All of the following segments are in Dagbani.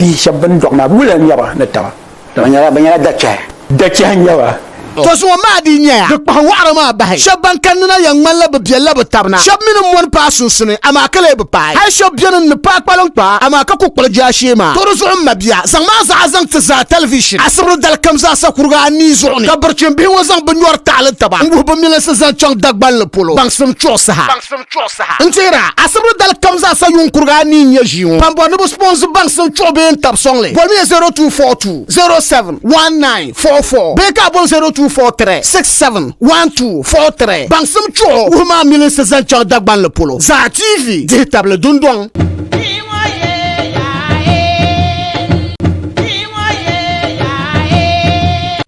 Bihi shɛba bɛn dɔɣi maa, bɛ wuliya n-nyɛ ba ni taba. Bɛ nyɛla dachɛhi. Dachɛhi n-nyɛ ba. Tɔ zuŋɔ maa dii nyɛya di kpahi wɔɣiri maa bahi. Shɛba ban kanni na yɛn ŋmanila bɛ biɛlila bɛ taba na. Shɛba mi ni mɔni paai sunsuni, amaa ka lee bi paai. Hal shɛba beni n-ni paai kpaliŋkpaa, amaa ka ku kpuɣi jaashee maa. Tɔ di zuɣu m mabia, zaŋ maa zaɣa zaŋ ti zaa tɛlivishin asibiri dali kam zaasa kuriga anii zuɣu ni, ka birichin bihi ŋɔ zaŋ bɛ nyɔri taɣili taba n-wuhi bɛ milinsi zaŋ chaŋ Dagbanli polo baŋsim chuɣu saha. chuɣu saha. N teeri a asibiri dali kam zaa sa yuun kurigi a ni yi nya ʒii ŋɔ pam bɔri ni bɛ sponsi baŋsi n chuɣu bee n tabi sɔŋli. Bolimiya 0242071944 bee ka a bol 0243671243 baŋsim chuɣu wuhi maa milinsi zaŋ chaŋ Dagbanli polo zaa TV dihi tabili dundɔŋ.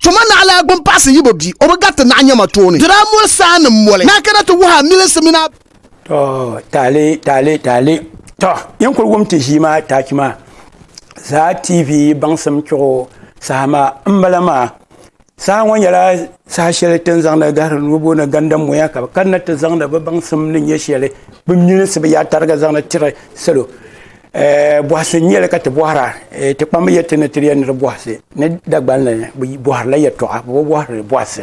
Tuma naɣila a gbini paɣisi yibo bia, o bi gariti naɣ nyama tooni. Dira moli saa ni moli, ni a kana ti wuhi a milinsi mini a. To, taali, taali, taali. To, yin kuli wum ti ʒii maa taach maa zaa TV baŋsim chuɣu saha maa m-bala maa. Saha ŋɔ nyɛla saha shɛli ti ni zaŋdi gahiri nuu booni gandammoya ka bɛ kanna ti zaŋdi bɛ baŋsim ni nyɛ shɛli bɛ milinsi bɛ yaa tariga zaŋdi tiri salo eh, bɔhisi n-nyɛ li ka ti bɔhira eh, ti kpammi yɛli ti ni tiri ya ni di bɔhisi ni Dagbani ni bɛ bɔhirila yɛtɔɣa bɛ bi bɔhiri bɔhisi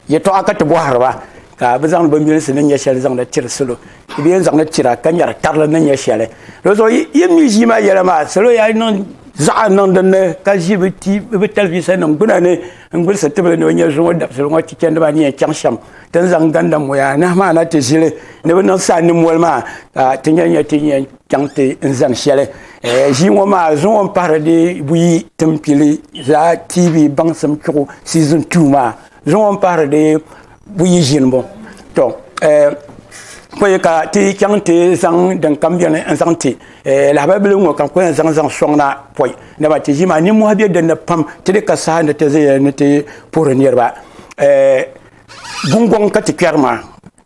yɛtɔɣa ka ti bɔhiri ba ka bɛ zaŋdi bɛ milinsi ni nyɛ shɛli zaŋdi tiri salo. Ti bi yɛn zaŋli tira ka nyɛri karili ni nyɛ shɛli. Di zuɣu yi mi ʒii maa yɛla maa salo yaa niŋ zaɣa niŋ din ni ka ʒi bi ti bi talivisa nim gbuna ni n gulisi tibili ni o nyɛ zuŋo dabisili ŋo ti chɛndi maa ni yɛn chaŋ shɛm ti ni zaŋ ganda moya anahi maa na ti ʒili ni bi niŋ saa ni moli maa ka ti nyɛ nyɛ ti yɛn chaŋ ti n zani shɛli ʒii ŋo maa zuŋo n pahari di buyi timpili zaa tv baŋsim chuɣu season two maa zuŋɔ n pahari di buyi ʒini bɔ to eh, koyi ka ti chaŋ ti zaŋ din kam biɛni n zaŋ ti eh, lahabali bili ŋɔ ka n koyi zaŋ zaŋ soŋ na pɔi dama ti ʒii maa nimmɔhi bɛ dinni pam ti di ka saha ni ti zaya ni ti puhiri niriba eh, gungoŋ ka ti kpɛri maa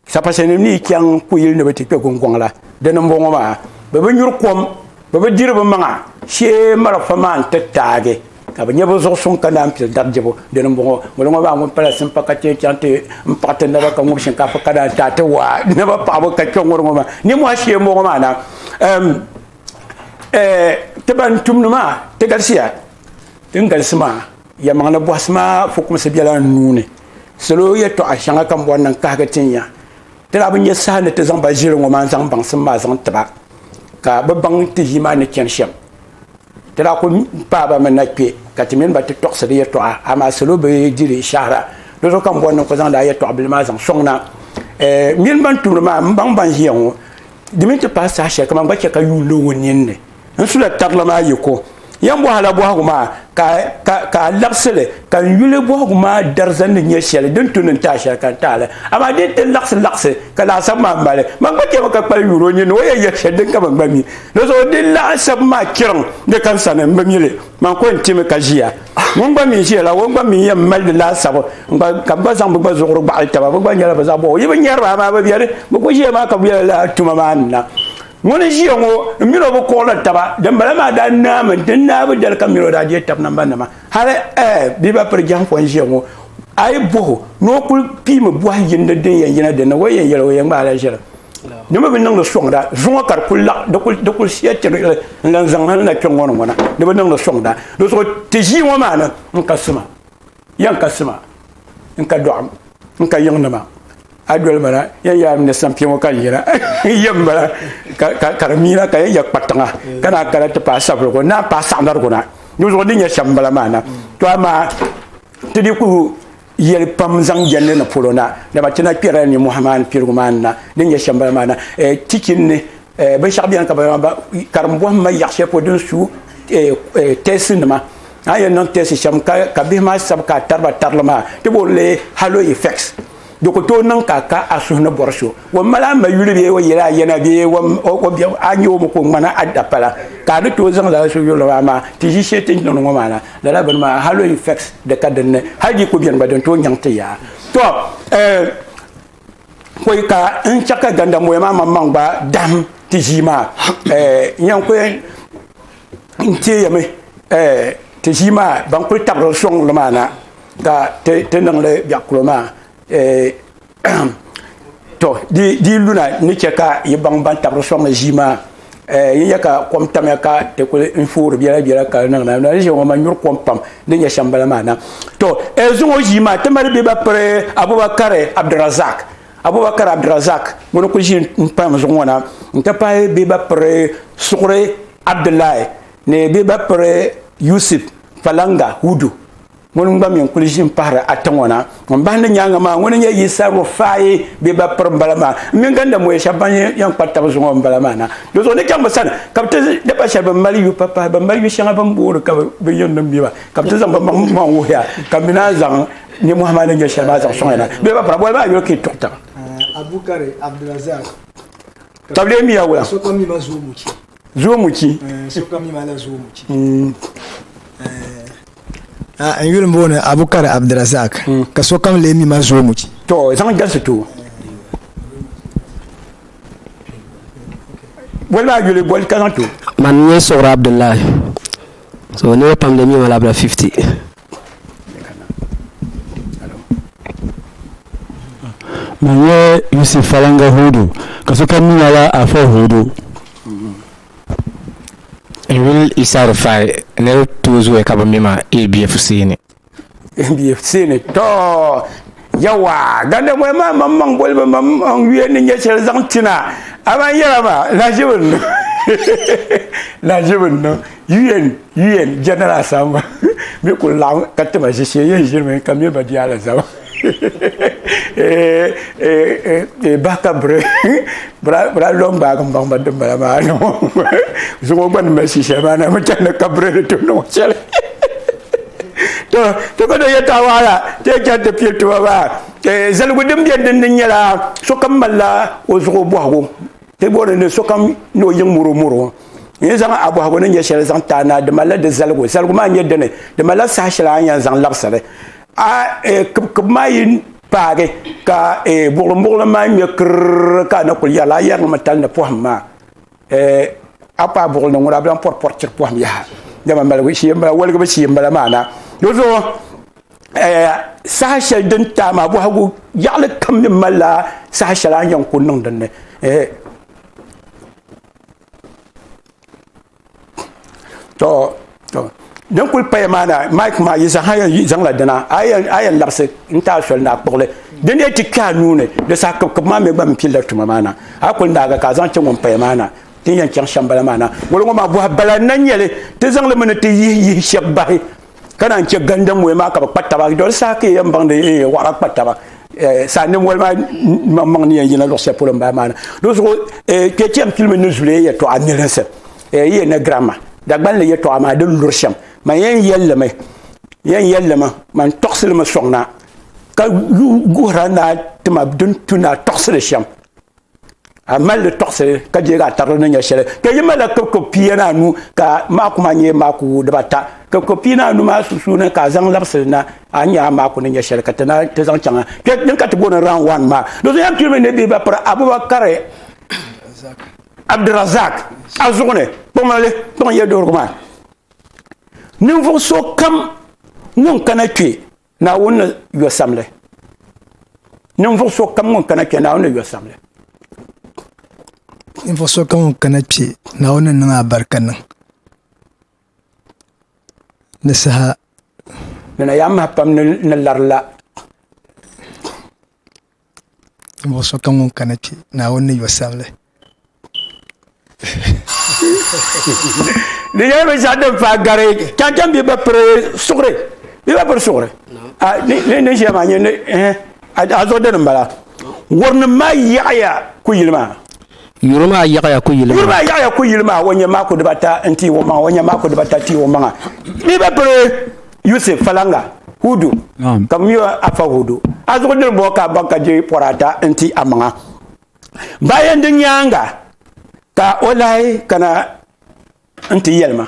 Sapasinim ni yi chaŋ kuyili ni bɛ ti kpe guŋgɔŋ la, dini m-bɔŋɔ maa, bɛ bi nyuri kom, bɛ bi diri bɛ maŋa shee marafa maa nti taagi, ka bɛ nya bɛ zuɣu suŋ ka naan pili dari dibu. Dini m-bɔŋɔ, ŋuni ŋɔ maa ŋun pala simpa ka ti yɛn chaŋ ti m-paɣi ti naba ka ŋub shinkaafa ka naan taai ti waa naba paɣibu ka kpiɔŋɔri ŋɔ maa ninmɔhi shee m-bɔŋɔ maa na. Ɛm, ɛɛ, ti ban tumdi maa, ti galisiya. Din galisi maa. Yɛlimaŋli bɔhisi maa fukumsi bela n nuu ni. Salo yɛtɔɣa shɛŋa ka m bɔri ni n kahigi ti nya. Ti daa bi nya saha ni ti zaŋ ba ʒiri ŋɔ maa n zaŋ baŋsim maa zaŋ ti ba ka bɛ baŋ ti ʒii maa ni chani shɛm. Ti daa kul paai ba mi na kpe ka ti mini ba ti tɔɣisi di yɛtɔɣa amaa salo bi diri shɛhira. Di zuɣu ka m bɔri ni n kul zaŋdi a yɛtɔɣa bila maa zaŋ sɔŋ na. Ɛɛh! M mini ban tumdi maa m baŋ ban ʒiya ŋɔ di mini ti paai saha shɛli ka man gba chɛ ka yuun lo o ninni. N sula tarili maa yiko. Yɛn bɔhila bɔhigu maa ka ka ka a laɣisili ka n yuli bɔhigu maa dariza ni nyɛ shɛli din tu ni n taai shɛli ka n taali. Amaa di ni ti laɣisi laɣisi ka laasabu maa mali ma n gba chɛ mi ka kpali yuuri o nyin ni o yɛn yɛli shɛli din ka man gba mi. Dinzuɣu di laasabu maa chiriŋ di ka n sani m bi mi li. Man ko n ti mi ka ʒiya. Ŋun gba mi ʒiya la o gba mi yɛn mali di laasabu n gba ka bɛ gba zaŋ bɛ gba zuɣuri gbaɣili taba. Bɛ gba nyɛla bɛ zaɣ bɔbigu. Yi bi nyari ba amaa bɛ beni. Bɛ ku ʒiya maa ka bɛ yɛla lala tuma maa ni na. Ŋun n ʒiya ŋo, m mini o bi kuɣili taba. Dimbala maa daa naami n ti naai bi dali ka m mini o daa je tab namba nima. Hali ɛɛ bia ba piri jɛhiŋfɔ n ʒiya ŋo, a yi boh o ni o kuli piimi bohi yindi din yɛn yina dinni, o yɛn yɛli o yɛn gbaai la ʒili. Di mi bi niŋdi sɔŋda, zuŋɔ ka di kuli laɣ, di kuli, di kuli siya tigili n lan zaŋ hal na kpe ŋɔ ni ŋɔ na, di bi niŋdi sɔŋda. Di zuɣu ti ʒii ŋɔ maa ni n kasi ma. yan ka sima n ka dɔɣim n ka yiŋ nima a doli mana yan yaa mini sampiɛ ŋɔ ka n yina yɛ n bala ka di miina ka yɛn yɛ kpa tiŋa ka naa kana ti paai sabirigu naa n paai saɣinarigu na di zuɣu din yɛ shɛm n bala maa na to amaa ti di ku yɛli pam zaŋ jɛndi ni polo na dama ti na kpɛrila nimmohi maa ni pirigu maa ni na din yɛ shɛm bala maa na tichin ni binshɛɣu biɛni ka ba karimbɔhimma yaɣa shɛli polo din su tɛsi nima a yɛn niŋ tɛsi shɛm ka bihi maa sabi ka a tariba tarili maa ti bo li halo effects di ku tooi niŋ ka ka a suhu ni bɔri so o mali a ma yuli bee o yɛli a yɛna bee a nyɛ o mi ka o ŋmana a dapala ka a ni tooi zaŋ lala suhu yuli maa maa ti ʒi shɛli ti ni niŋdi ŋɔ maa na lala bini maa halo effects di ka dinni hali di ku bɛni gba din tooi nyaŋ ti yaa to eh, kɔy ka n chɛ ka gandamboya maa maŋ maŋ gba dahim ti ʒii maa eh, nyan kɔy n teeyami eh, ti ʒii maa ban kuli tabiri sɔŋ li maa na ka ti niŋli biɛɣikulo maa eh, to di luna ni chɛ ka yi baŋ ban tabiri sɔŋ li ʒii maa eh, yi nya ka kom tamya ka ti kuli n foori biɛla biɛla ka niŋ na na ʒiɛŋo ma nyuri kom pam ni nyɛ shɛm bala maa na to eh, zuŋo ʒii maa ti mali bɛ ba piri abubakar abdurazak abubakar abdurazak ŋuni kuli ʒi n pam zuɣu ŋo na n ti pahi bɛ ba piri suɣuri abdullahi ni bɛ ba piri yusuf falanga hudu ŋun gba mi n kuli ʒi n pahari ata ŋɔ na ŋun bahi ni nyaanga maa ŋuni nyɛ yisa rufaayi bɛ ba piri n bala maa n mini ganda moya shɛba ban yɛn kpa tabi zuŋɔ n bala maa na di zuɣu ni chaŋ bi sani ka bi ti daba shɛli bin mali yu pa pahi bin mali yu shɛŋa bin boori ka bi yɛn niŋ biba ka bi ti zaŋ bi maŋ maŋ wuhiya ka mi naan zaŋ nimmohi maa ni nyɛ shɛli maa zaŋ soŋya na bɛ ba pira boli maa yuli ka yi tuɣi taba. Abukari Abdulrazak. Tabili miya wula. Zoomuchi. Eh, sokam mi mala zoomuchi. Mm. Eh, ah, n yuli booni Abukari Abdirazak mm. ka sokam lee mi ma zoomuchi. To, zaŋ galisi to. Boli maa yuli boli ka zaŋ to. Man nyɛ Sogra Abdullahi. So niriba pam lee mi mala abira 50. Manyɛ Yusuf falaŋa Hudu, ka sokam mi lala afa Hudu. N yuli Isa Rufai ni di tooi zooya ka bɛ mi ma ABFC ni. ABFC ni tɔɔ. Yawa, ganda moya maa mam maŋ boli ba mam n yuya ni nyɛ shɛli zaŋ tina aman yɛra ma lahiʒibu n niŋ lahiʒibu n niŋ un un general asamba mi kuli laɣim ka tima ʒishee yɛn ʒirimi ka miri ba di alizama bahi ka biri bira lɔŋ gbaagi n baŋ ba din bala maa zuŋɔ gba ni mali shishɛli maa na mi chani ka biri ni tum ni ŋɔ shɛli to to ka do yɛta waala ti yɛ chɛri ti pili tuma maa zaligu din bɛ dindi nyɛla sokam malila o zuɣu bɔhigu ti booni ni sokam ni o yiŋ moro moro yɛn zaŋ a bɔhigu ni nyɛ shɛli zaŋ taa na di malila di zaligu zaligu maa nyɛ dini di malila saha shɛli a yɛn zaŋ labisiri a kibikibi maa yi paagi ka buɣilim buɣilim maa ŋmɛ kirr ka a na kuli yɛrila a yɛrimi tali ni pɔhim maa Eh, akpa buɣul ni ŋuna bilan pɔri pɔri chiri pɔhim yaha. Dama maligu shee m-bala, waligibu shee m-bala maana. Di zuɣu, eh, saha shɛli din taai maa bɔhigu yaɣili kam ni malila saha shɛli a ni yɛn ku niŋ din ni. Eh, tɔ. din kuli paya maa na mike maa yi zaŋ yi zaŋla dina a yɛn labisi n taai soli ni a kpuɣili din dee ti kpɛha nuuni di saha kibikib maa mi gba mi pilila tuma maa na a kuli naaga ka a zaŋ chɛ ŋun paya maa na din yɛn chaŋ shɛm bala maa na ŋolo ŋɔ maa bɔha bala n na nyɛli ti zaŋli mi ni ti yihi yihi shɛb bahi ka naan chɛ ganda mɔya maa ka bi kpa taba doli saha ka yɛn baŋdi eh, waɣara kpa taba eh, saa ni mɔli maa maŋmaŋ ni yɛn yina luɣu shɛli polo n bala maa na di zuɣu eh, kpɛ chɛm tilimi ni zuliya yɛtɔɣa nilinsi Eh, yi yɛn na gira ma, Dagbani ni yɛtɔɣa maa di luri shɛm, man yɛn yɛllimi, yɛn yɛllimi, man tɔɣisilimi sɔŋ na, ka guhira ni a ti ma din tu ni a tɔɣisili shɛm. A mali li tɔɣisili ka je ka a tarili ni nya shɛli. Kpe yi malila kibikib pia ni anu ka maaku maa nyɛ maaku dibata. Kibikib pia ni anu maa sunsuuni ka a zaŋ labisili na, a nya a maaku ni nya shɛli ka ti na ti zaŋ chaŋa. Kpe din ka ti booni round one maa. Do so yɛn pili mi ni bɛ ba piri Abubakar. Abdirazak a zuɣu ni kpaŋmalli kpaŋ yɛduhirigu maa ninvuɣu so kam ŋun kana kpɛ naawuni ni yɔ samli ninvuɣu so kam ŋun kana kpɛ naawuni ni yɔ samli ninvuɣu so kam ŋun kana kpɛ naawuni ni niŋ a barika niŋ ni saha nana yaa maha pam ni larila Ninvuɣ so kam ŋun kani kpe, Naawuni ni yɔ sani li. Di nyɛla binshɛɣu din paai gari chaŋchaŋ bia ba piri suɣuri bia ba piri suɣuri ni ʒiya maa a zuɣu dini m-bala wurinim maa yaɣiya kuyili maa Yuri maa yaɣaya ku yili maa. Yuri maa yaɣaya ku yili maa. O nyɛ maa ku dibata n-tii o maŋa. O nyɛ maa ku dibata tii o maŋa. Mi bɛ piri Yusif falaŋa, Hudu, ka bɛ mi o Afa Hudu. A zuɣu diri bɔ ka a baŋ ka di pɔri ata n-ti a maŋa. Bayan di nyaaŋa ka o lahi kana. nti yɛli ma.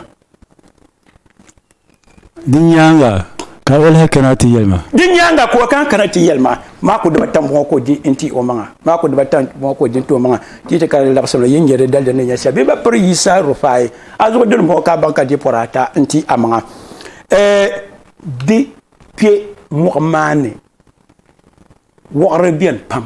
Di nyaaŋa ka o lahi kana ti yɛli ma. Di nyaaŋa ka o lahi kana ti yɛli ma. Maa ku dibata m-bɔŋɔ ka o di n-ti o maŋa. Maa ku dibata m-bɔŋɔ ka o di n-ti o maŋa. Ti ti karili laɣisim la, yi ni nya di daliri ni nya shɛli bɛ ni ba piri Yisa Rufai a zuɣu dini m-bɔŋɔ ka a baŋ ka di pɔri ata n-ti a maŋa. Ɛɛh, di kpe mɔɣu maa ni wɔɣiri beni pam.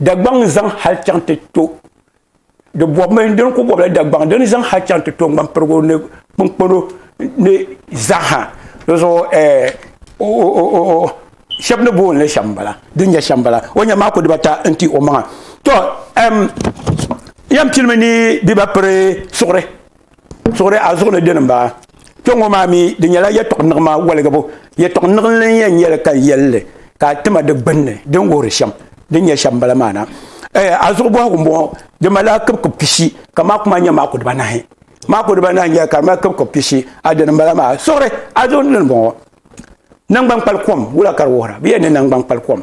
Dagbaŋ n zaŋ hali chaŋ ti to di bɔbimi dini ku bɔbila Dagbaŋ dini zaŋ hali chaŋ ti to ŋmanpirigu ni kpinkpano ni zaaha di zuɣu eh, shɛba ni booni li shɛm bala din nyɛ shɛm bala o nyɛ maa ku dibata n ti o maŋa to yɛn pilimi ni biba piri suɣuri suɣuri a zuɣu ni dini n baa kpɛŋŋo maa mi di nyɛla yɛtɔɣ niɣima waligibu yɛtɔɣ niɣinli n yɛn nyɛli ka n yɛlli ka a tima di gbunni din wuhiri shɛm din nyɛ shɛm bala maa na a zuɣu bɔhigu n bɔŋɔ di malila kibikib pishi ka maaku maa nyɛ maaku dibanahi maaku dibanahi nyɛli ka di mali kibikib pishi a dini n bala maa suɣuri a zuɣu ni dini n bɔŋɔ nangbani kpali kom wula ka di wuhira bee ni nangbani kpali kom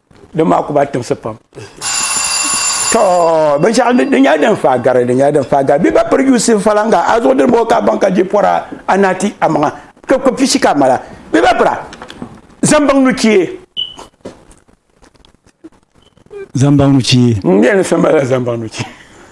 din maa ku ba timsi pam to binshaɣu di nyɛla din faa gari di nyɛla din faa gari bi ba piri yusi falanga a zuɣu dini bɔ ka ban ka ji pɔra a na ti a maŋa ka ko pishi ka mala bi ba pira zambaŋ nu chie zambaŋ nu chie n yɛn ni sambala zambaŋ nu chie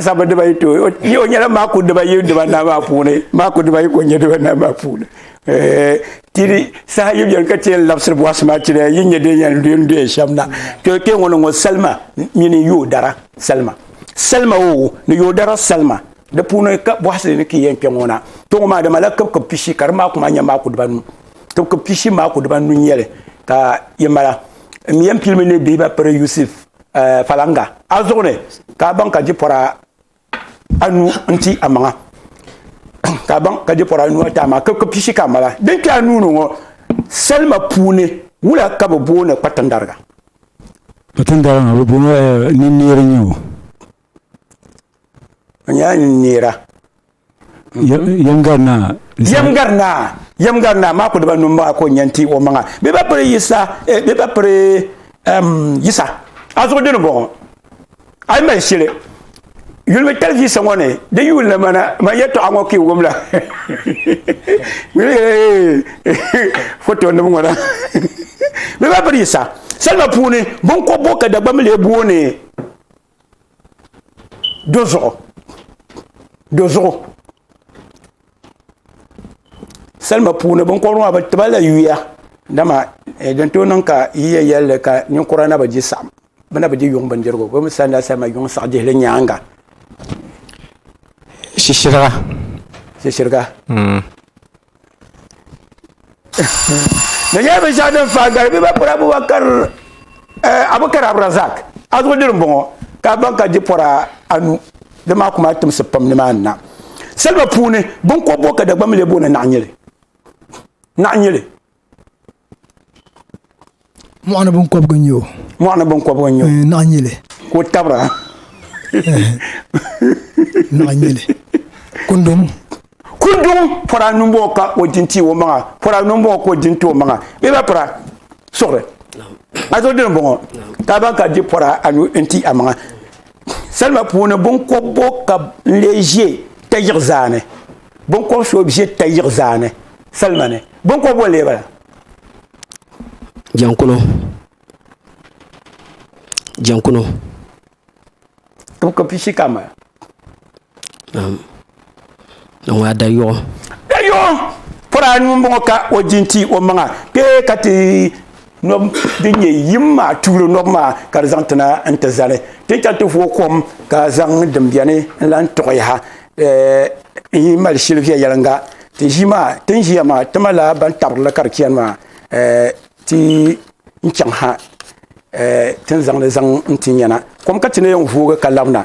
sabu dibayi to ni o nyɛla maa ku dibayi dibanahi maa puuni maa ku dibayi ko nyɛ dibanahi maa puuni tiri saha yi biɛni ka chɛ n labisiri bɔhisi maa chira yi nyɛ din yɛn duya duya shɛm na to kpɛ ŋɔ ni ŋɔ salima mini yoo dara salima salima o ni yoo dara salima di puuni ka bɔhisi ni ki yɛn kpɛ ŋɔ na to ŋɔ maa dama la kib kib pishi ka di maa kuma nyɛ maa ku dibanu kib kib pishi maa ku dibanu nyɛli ka yi mala M yɛn pilimi ni bɛ ba piri Yusuf eh, falaŋa a zuɣu ni, ka a baŋ ka jipɔra anu n-ti a maŋa, ka a baŋ ka jipɔra anu n-ti a maŋa, ka pishi ka a mala. Din kpe a nuu ni ŋɔ, salima puuni wula ka bɛ booni kpatindariga? Kpatindariga ŋɔ, bɛ booni eh, ninneer n-nyɛ o. maa ku di ba num maa ko nyɛn ti o maŋa bɛ ba piri yisa eh, bɛ ba piri yisa a zuɣu dini bɔŋɔ a yi mali shili yulimi talivisa ŋɔ ni di yuuli ni mana man yɛtɔɣa ŋɔ ka wumla foto nim ŋɔ na bɛ ba piri yisa salima puuni binkɔbbo ka dagbamile booni Do zuɣu do zuɣu salima puuni binkobiri maa bi tibala yuya dama eh, din tooi niŋ ka yiya yɛlli ka ninkura na bi di saɣam bi na bi di yuŋ bindirigu bi mi sanila salima yuŋ saɣi dihili nyaanga shishiriga shishiriga hmm. di nyɛla binshaɣu din faa gari bɛ ba pɔra abubakar abukar abrazak azuɣu diri n bɔŋɔ ka a baŋ ka di pɔra anu di maa kuma timsi pam ni maa ni na saliba puuni binkɔbbu ka dagbamb lee booni naɣa nyili naɣa nyili mɔɣuni binkɔbigu n-nyɛ o mɔɣuni binkɔbigu n-nyɛ o eh, naɣ nyili ka o tabira eh, naɣ nyili kundum kundum pɔra nimbɔɔ ka o din ti o maŋa pɔra nimbɔɔ ka o din ti o maŋa bɛ ba pira suɣiri a zo dini bɔŋɔ ka ban ka di pɔra anu n ti a maŋa salima puuni binkɔbigu ka n lee ʒe tayiɣi zaani binkɔbi so ʒe tayiɣi zaani salima ni binkɔb boli lee bala jɛnkuno jɛnkuno ka pishi ka mali um, ni ŋɔ a dayuɣu dayuɣu pɔra anu n bɔŋɔ ka o jinti o maŋa kpee ka ti Nɔb din nyɛ yim maa tuuli nɔb maa ka di zaŋ tina n-ti zali. Ti chɛli ti vooi kom ka zaŋ din beni n-lan tuɣi yaha n-yi mali shili viɛnyɛliŋga. Ti ʒii maa, ti ni ʒiya maa, ti malila ban tabiri li ka di chani maa ti ni chaŋ ha ti ni zaŋ li zaŋ n-ti nyana. Kom ka ti ni yɛn voogi ka labina.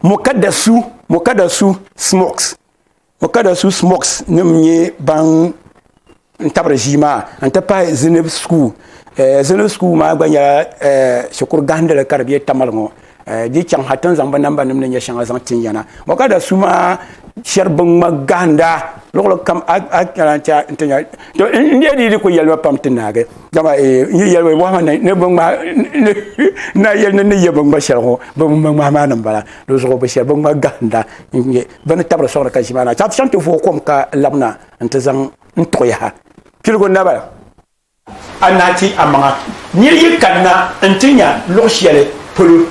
Mokadasu, Mokadasu, Smokes, O ka da su smoks nim n nyɛ ban n tabiri ʒii maa n ti pahi zinib sukuu eh, zinib sukuu maa gba nyɛla eh, shikuru gahindili ka di bɛ tamali ŋɔ eh, di chaŋ ha tin zaŋ bi namba nim ni nyɛ shɛŋa zaŋ tin yana o ka da su maa shɛri bin ŋma gahinda luɣuli kam alancha n ti nya to n deɛ di di ku yɛlima pam ti naagi dama eh, n yi yɛlima wɔhima ni ni bin ŋma na yɛli ni ni yɛ bin ŋma shɛli ŋɔ bin ŋma ŋmahi maa ni n bala di zuɣu bi shɛri bin ŋma gahinda n nyɛ bɛ ni tabiri sɔŋdi ka ʒi maa na chaŋ ti chaŋ ti vooi kom ka labina nti zaŋ n tuɣi yaha. Piligu naba. A naa ti amaŋa nir yi kanna nti nya luɣ shɛli polo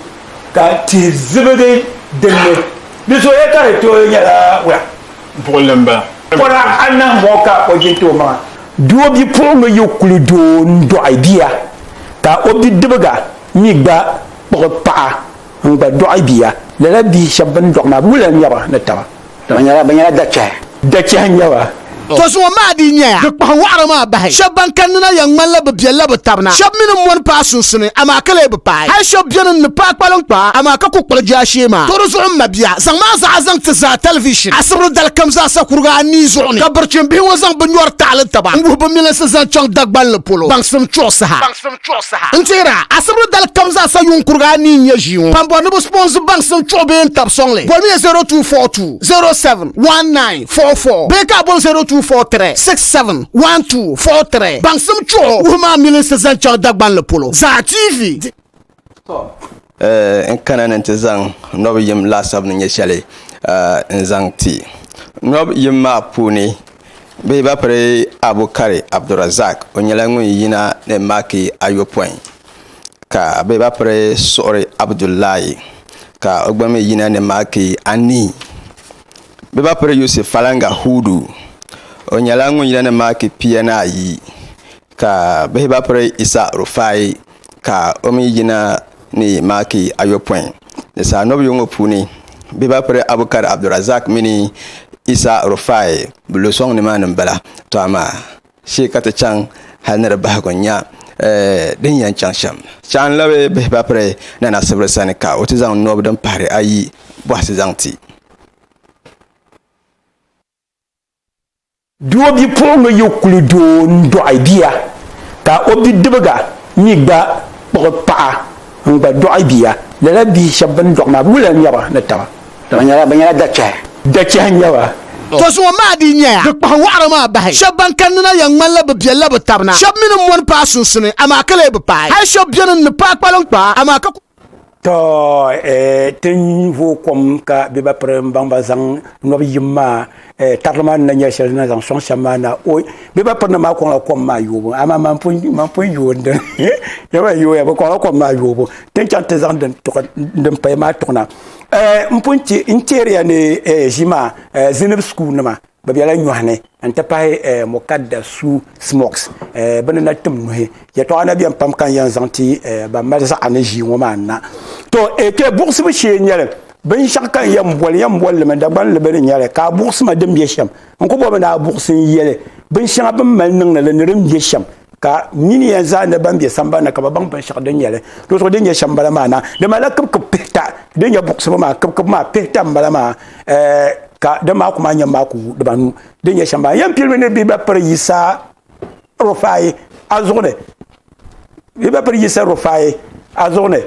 ka tihi zibigi din ni, di zooya ka di tooi nyɛla wula. Buɣilimba. Pɔra anahi ŋɔ ka o jin ti o maŋa. Doo bipuɣiŋga yi kuli doo n-dɔɣi bia ka o bidibiga mi gba kpuɣi paɣa n gba dɔɣi bia lala bihi shɛba bini dɔɣi maa bɛ wula nyaba ni taba dama nyɛla bɛ nyɛla dachɛhi dachɛhi nyaba To zuŋɔ maa dii nyɛya di kpahi wɔɣiri maa bahi shɛba ban kanni na yɛn ŋmanila bɛ biɛlila bɛ tabina shɛba mi ni mɔni paai sunsuni amaa ka lee bi paai hali shɛba beni n ni paai kpaliŋ kpaa amaa ka ku kpuɣi jaashee maa to di zuɣu m ma bia zaŋ maa zaɣa zaŋ ti zaa tɛlivishin asibri dalikam zaasa kuriga anii zuɣu ni ka birichin bihi ŋɔ zaŋ binyɔri taɣili taba n wuhi bɛ milinsi zaŋ chaŋ Dagbanli polo baŋsim chuɣu saha. chuɣu saha. N teer a asibiri dali kam zaa sa yuun kurigi anii n-nyɛ ʒii ŋɔ. Kpambɔri ni bɛ sponsor baŋsim chuɣu bee n-tab sɔŋli, bolimiya 0242071944 bee ka a bol 0243671243. Baŋsim chuɣu wuhi maa milinsi zaŋ chaŋ Dagbanli polo zaa TV. Di. Tɔ! N kana ni n ti zaŋ nɔb yim laasabu ni nyɛ shɛli n-zaŋ ti. Nɔb yim maa puuni bɛ ba piri Abukari Abdurazak, o nyɛla ŋun yina ni maaki ayopɔin, ka bɛ ba piri Suɣuri Abdullahi, ka o gba mi yina ni maaki anii. Bɛ ba piri Yusuf Falanga Hudu, o nyɛla ŋun yina ni maaki pia ni ayi, ka bɛ ba piri Isa Rufai, ka o mi yina ni maaki ayopɔin ni saa nɔbiyu ŋɔ puuni bibapiri Abukar Abdulrazak mini Isa Rufai bɛ lo sɔŋ nimaani m-bala tɔ amaa shee ka ti chaŋ hali ni di bahigu n-nya din yɛn chaŋ shɛm. Chaŋ labi bihibapiri Nana Sibiri sani ka o ti zaŋ nɔbi din pahiri ayi bɔhisi zaŋ ti. Doo bipuɣingi yi kuli doo n dɔɣi bia ka o bidibiga mi gba kpuɣi paɣa n gba dɔɣi bia lala bihi shɛba bini dɔɣi maa wula nyɛba ni taba. Bɛ nyɛla dachɛhi. Dachɛhi nyɛba. To zuŋɔ maa dii nyaya di kpahi wɔɣiri maa bahi. Shɛba ban kanni na yɛn ŋmanila bɛ biɛlila bɛ tabina. Shɛba mi ni mɔni paai sunsuni amaa ka lee bi paai. Hali shɛba beni n ni paai kpaliŋkpaa amaa ka kuli. to eh, tin vo kom ka bɛ ba piri n baŋ ba zaŋ nɔbi yim maa eh, tarili maa ni na nyɛli shɛli na zaŋ sɔŋ shɛm maa na o bɛ ba piri na maa kɔŋla kom maa yoobu amaa man pun yooi din yɛba yooya bɛ kɔŋla kom maa yoobu tin chaŋ ti zaŋ din paya maa tuɣina eh, n pun chɛ n chɛriya ni eh, ʒi maa eh, zinib sukuu nima Bɛ bela nyɔhi ni n-ti pahi eh, mukadda su smokes eh, bɛ ni na tim nuhi. Yɛtɔɣa na beni pam ka n yɛn zaŋ ti eh, ban mali zaɣa ni ʒii ŋɔ maa na. To eh, kpe buɣisibu shee n-nyɛ li. Binshɛɣu ka n yɛn boli, n yɛn boli li mi Dagban ni bɛ ni nya li, ka a buɣisi ma din be shɛm. N ku bɔmi ni a buɣisi n yɛli binshɛŋa bɛ ni mali niŋdi li ni din be shɛm. ka nini yɛn zaa ni ban bɛ sambani ka ba baŋ binshɛɣu din nyɛli do zuɣu din nyɛ shɛm bala maa na di malila kibikib pihita din nyɛ buɣusibu maa kibikib maa pihita n bala maa ka din maa ku maa nyɛ maa ku dibanu din nyɛ shɛm bala yɛn pilimi ni bi ba piri yisa rufai a zuɣu ni bi ba piri yisa rufai a zuɣu ni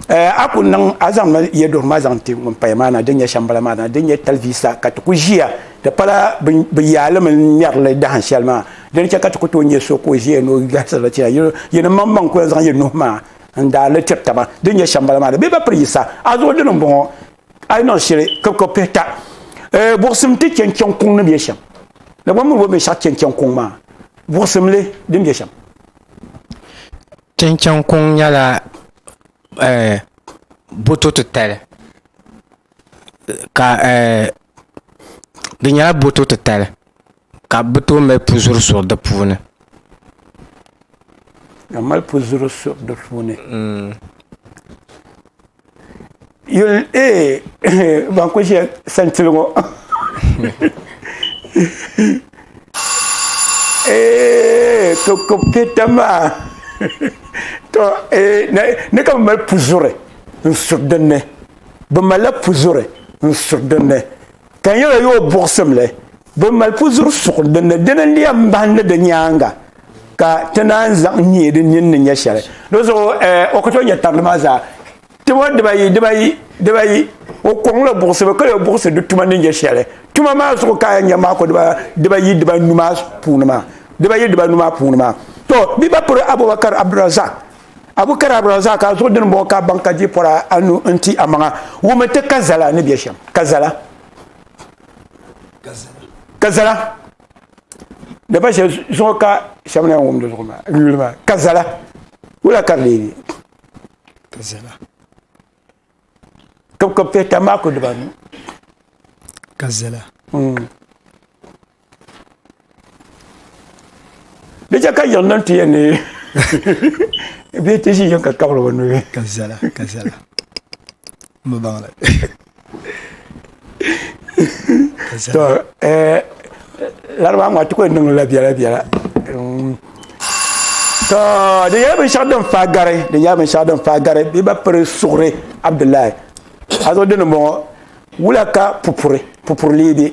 eh, a ku niŋ a zaŋla yɛduɣiri maa zaŋ ti ŋun paya maa na din nyɛ shɛmbala maa na din nyɛ talivisa ka ti ku ʒiya ti pala bi yaali mini ŋmɛrili dahin shɛli maa din chɛ ka ti ku tooi nyɛ so ka o ʒiya ni o gahisirili chɛya yi ni maŋ maŋ kula zaŋ yi nuhi maa n daa li tiri taba din nyɛ shɛmbala maa na bee ba piri yisa a zuɣu dini n bɔŋɔ a yi niŋ shili kibikib pihi ta eh, buɣusim ti chɛn chɛŋ kuŋ ni bɛ shɛm Dagbaŋ mini o binshaɣu chɛn chɛŋ kuŋ maa buɣusim li din bɛ shɛm Chinchini kuŋ nyɛla boto titali ka di nyɛla boto titali ka bi tooi mali pu zuri suri di puuni yuli ee ban kuli ʒe santili ŋɔ ee to kobketa maa to ee ni ka bi mali puzuri n suri dinni bi malila puzuri n suri dinni ka nyɛla yo buɣusimli bin mali puzuri suɣu din ni dini n-lɛm m-bahindi di nyaaŋa ka ti naan zaŋ nyee din nini ni nyɛ shɛli di zuɣu o ka tooi nyɛ tarili maa zaa tuma dibayi dibayi dibayi o kɔŋla buɣusibu ka yo buɣusi di tuma ni nyɛ shɛli tuma maa zuɣu ka a yɛn nya maa ko dibayi dibanu maa puuni maa dibayi dibanu maa puuni maa to bɛ ba piri Abubakar Abdulrazak Abu Kar Abdulrazak a zuɣu dini bɔŋɔ ka a baŋ ka di pɔra anu n-ti amaŋa, wumi ti ka zala ni bɛ shɛm, ka zala, ka zala, di ba shɛli zuɣu ka shɛm na wum di zuɣu maa, n yuli maa, ka zala, wula ka di leei be? Ka zala. Kibkib pihita maa ku dibanu. Ka zala. Mm. di chɛ ka yiɣi niŋ ti yɛn ni bee ti ʒi yɛn ka kabiri o nuhi ka viɛla ka viɛla n bi baŋli ka to viɛla eh, laribaa ŋɔ ti ku yɛn niŋla biɛla biɛla Mm. to di nyɛla binshɛɣu din faa gari di nyɛla binshɛɣu din faa gari bɛ ba piri suɣuri abdullahi a zo dini bɔŋɔ wula ka pupuri pupuri lee bɛ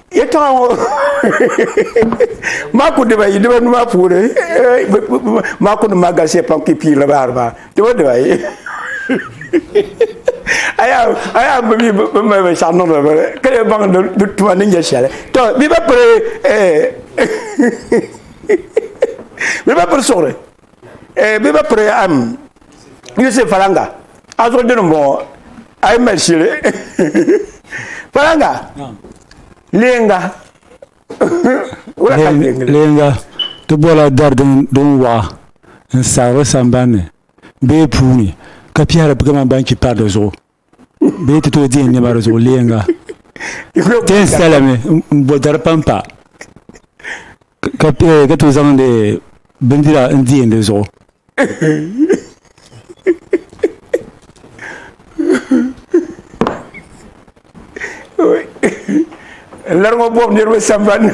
yɛltɔɣa ŋɔ maa ku dibayi dibanu maa puuni maa ku niŋ maa galisiya pam ka piirila bahari maa diba dibayi a yaa bi mi bi mali binshɛɣu niŋdi bi ka yɛ baŋ di tuma ni nyɛ shɛli to mi ba piri mi ba piri suɣuri eh, bɛ ba piri am yusuf falanga a zuɣu dini m-bɔŋɔ a yi mali shili falanga leenga leenga ti bɔla dari din waɣa n-sabiri sambanni bee puuni ka pihiri kamani ban chi pari di zuɣu bɛ ti tooi deei nɛma di zuɣu leeŋa ti yɛn sitala mi m-bo dari pampa ka ka tooi zaŋdi bindira n-deei di zuɣu lari ŋɔ bɔbu niriba sambani ni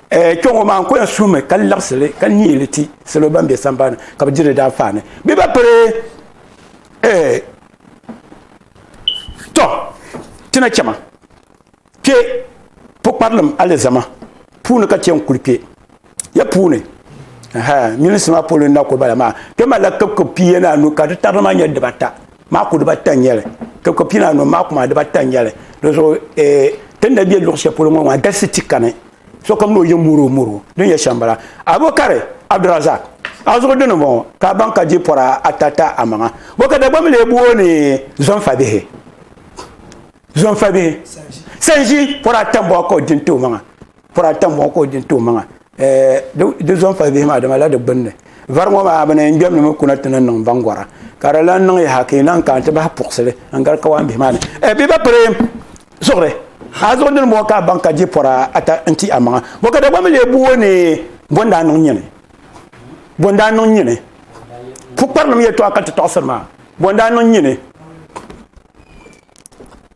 Eh, kpɛ ŋɔ maa n ko ya suhimi ka liɣisili ka niili ti salo ban bɛ sambani ka bi diri daanfaani bɛ ba piri eh, tɔ ti na chɛma kpɛ pukparilim alizama puuni ka chɛ n kuli kpɛ ya puuni minisi maa polo n na ko bala maa kpɛ malila kibkib pia ni anu ka di tarili maa nyɛ dibata maaku dibata n nyɛli ka ko pina anu maaku maa dibata n nyɛli di zuɣu eh, ti ni bɛ luɣu shɛli polo ŋɔ maa galisi ti kani sokam ni o yɛn moro moro din yɛ shɛm bala abokari abdurazak a zuɣu dini bɔŋɔ ka a baŋ ka di pɔra ata ta amaŋa bɔ ka dagbaŋ mi lee booni zɔnfabihi zɔnfabihi sanʒi pɔra ata n bɔŋɔ ka o din ti o maŋa pɔri ata ŋɔ ka o di n-ti o maŋa di zɔn pali bihi maa dama la di gbunni vari ŋɔ maa bɛ ni yɛn gbɛmdi mi kuna ti ni niŋ baŋgɔra ka di lan niŋ yaha ka yi lan kana ti bahi puɣisili n-gari kawaan bihi maa ni ɛ bɛ ba piri zuɣuri a zuɣu dini bɔŋɔ ka a baŋ ka di pɔri ata n-ti a maŋa bɔ ka Dagbaŋ mi lee bo o ni bɔ n-daa niŋ nyini bɔ n-daa niŋ nyini pukparilim yɛtɔɣa ka ti tɔɣisiri maa bɔ n-daa niŋ nyini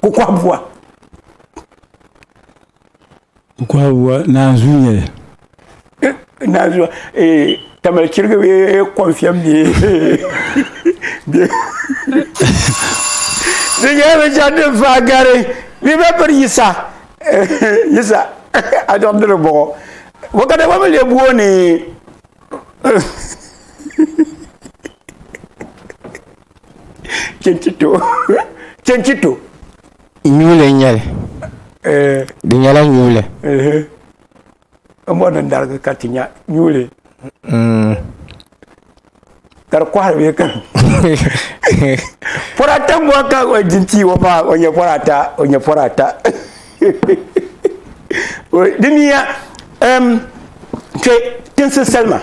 ka o kɔhi bua o kɔhi bua naanzuu n nyɛli naanzuu ee tamali chirigi bee kɔnfiɛm bee bee di nyɛla binshɛli din faa gari ni bɛ piri yisa yisa a dɔɣim diri bɔɣɔ bɔ ka dama mi lee booni Chinchito. Chinchito. Nyuule nyɛli. Eh. Di nyɛla nyuule. Eh. Mɔri ni darigi ka ti nya nyuule. Mm. Ka di kɔhiri bɛ kan. Pɔra ata mɔri ka o jinti o pa o nyɛ pɔra ata o nyɛ pɔra ata. Di miya. Um, kwe, tinsi salima.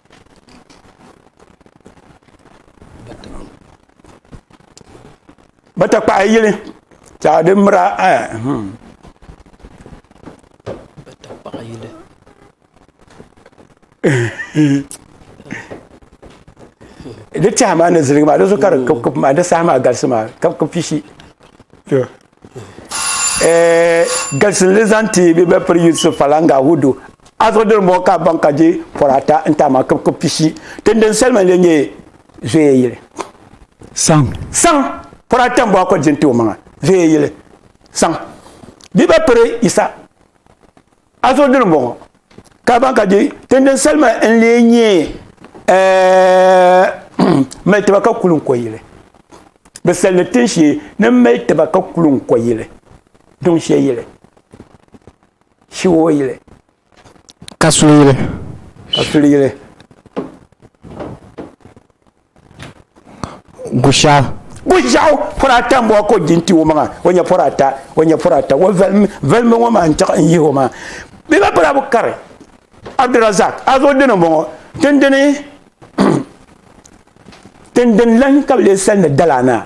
ba ta kpahi yili ta di mira eh, hmm. di tɛha maa ni ziligi maa di zuɣu ka di kipkip maa di saha maa galisi maa kipkip pishi eh, galsinli zaŋ ti bi bɛ piri Yusuf Falanga Hudu azuɣu diri mɔɣu ka baŋ ka je pɔri ata n taama kib kib pishi tin din salima le nyɛ zoya yili saŋ saŋ pɔri ata n bɔ akɔli jin ti o maŋa zoya yili saŋ bi bɛ piri Isa a zo dini bɔŋɔ ka ban ka di tindin salima n lee nyɛ mali tiba ka kuli n ko yili bi salindi tin shee ni mali tiba ka kuli n ko yili duŋ shɛ yili shiwo yili ka suli yili ka suli yili Gusha. Gushaw pɔri ata n bɔŋɔ ka o di n ti o maŋa o nyɛ pɔri ata o nyɛ pɔri ata o valimi valimi ŋɔ maa n tiɣi n yihi o maa bi ba pala bi kari Abdurazak a zuɣu dini n bɔŋɔ dindini dindini lan ka bi lee sali ni dala anaa.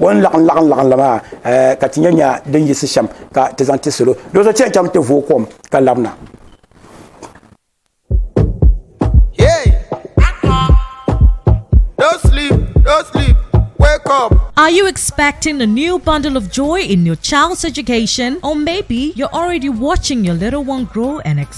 o ni laɣim laɣim laɣim la maa eh, ka ti nya nya din yisi shɛm ka ti zaŋ ti salo do so chɛn chaŋ ti vooi kom ka labina Are you expecting a new bundle of joy in your child's education? Or maybe you're already watching your little one grow and expand?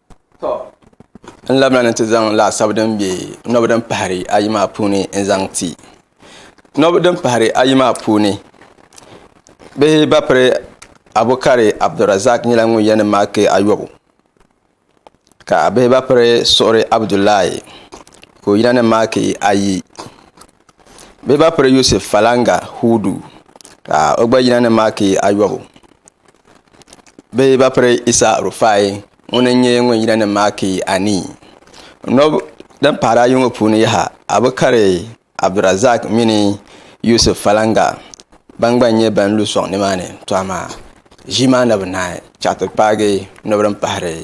To n labina ni ti zaŋ laasabu din bɛ nobi din pahari ayi maa puuni n zaŋ ti nobi din pahari ayi maa puuni bihi batri Abukari Abdulrazak nyɛla ŋun yɛn maaki ayobu ka bihi batri suɣuri Abudulaayi ka o yina ni maaki ayi bihi batri Yusuf Falanga Hudu ka o gba yina ni maaki ayobu bɛ yi ba piri Yisa Rufai ŋuni n-nyɛ ŋun yina ni Maaki anii. Nɔb din pahiri ayi ŋɔ puuni yaha, a bi kari Abdurazaak mini Yusuf Falanga ban gba nyɛ ban lu sɔŋ nimaani, tɔ amaa ʒii maa na bi naai chaɣ ti paagi nɔb din pahiri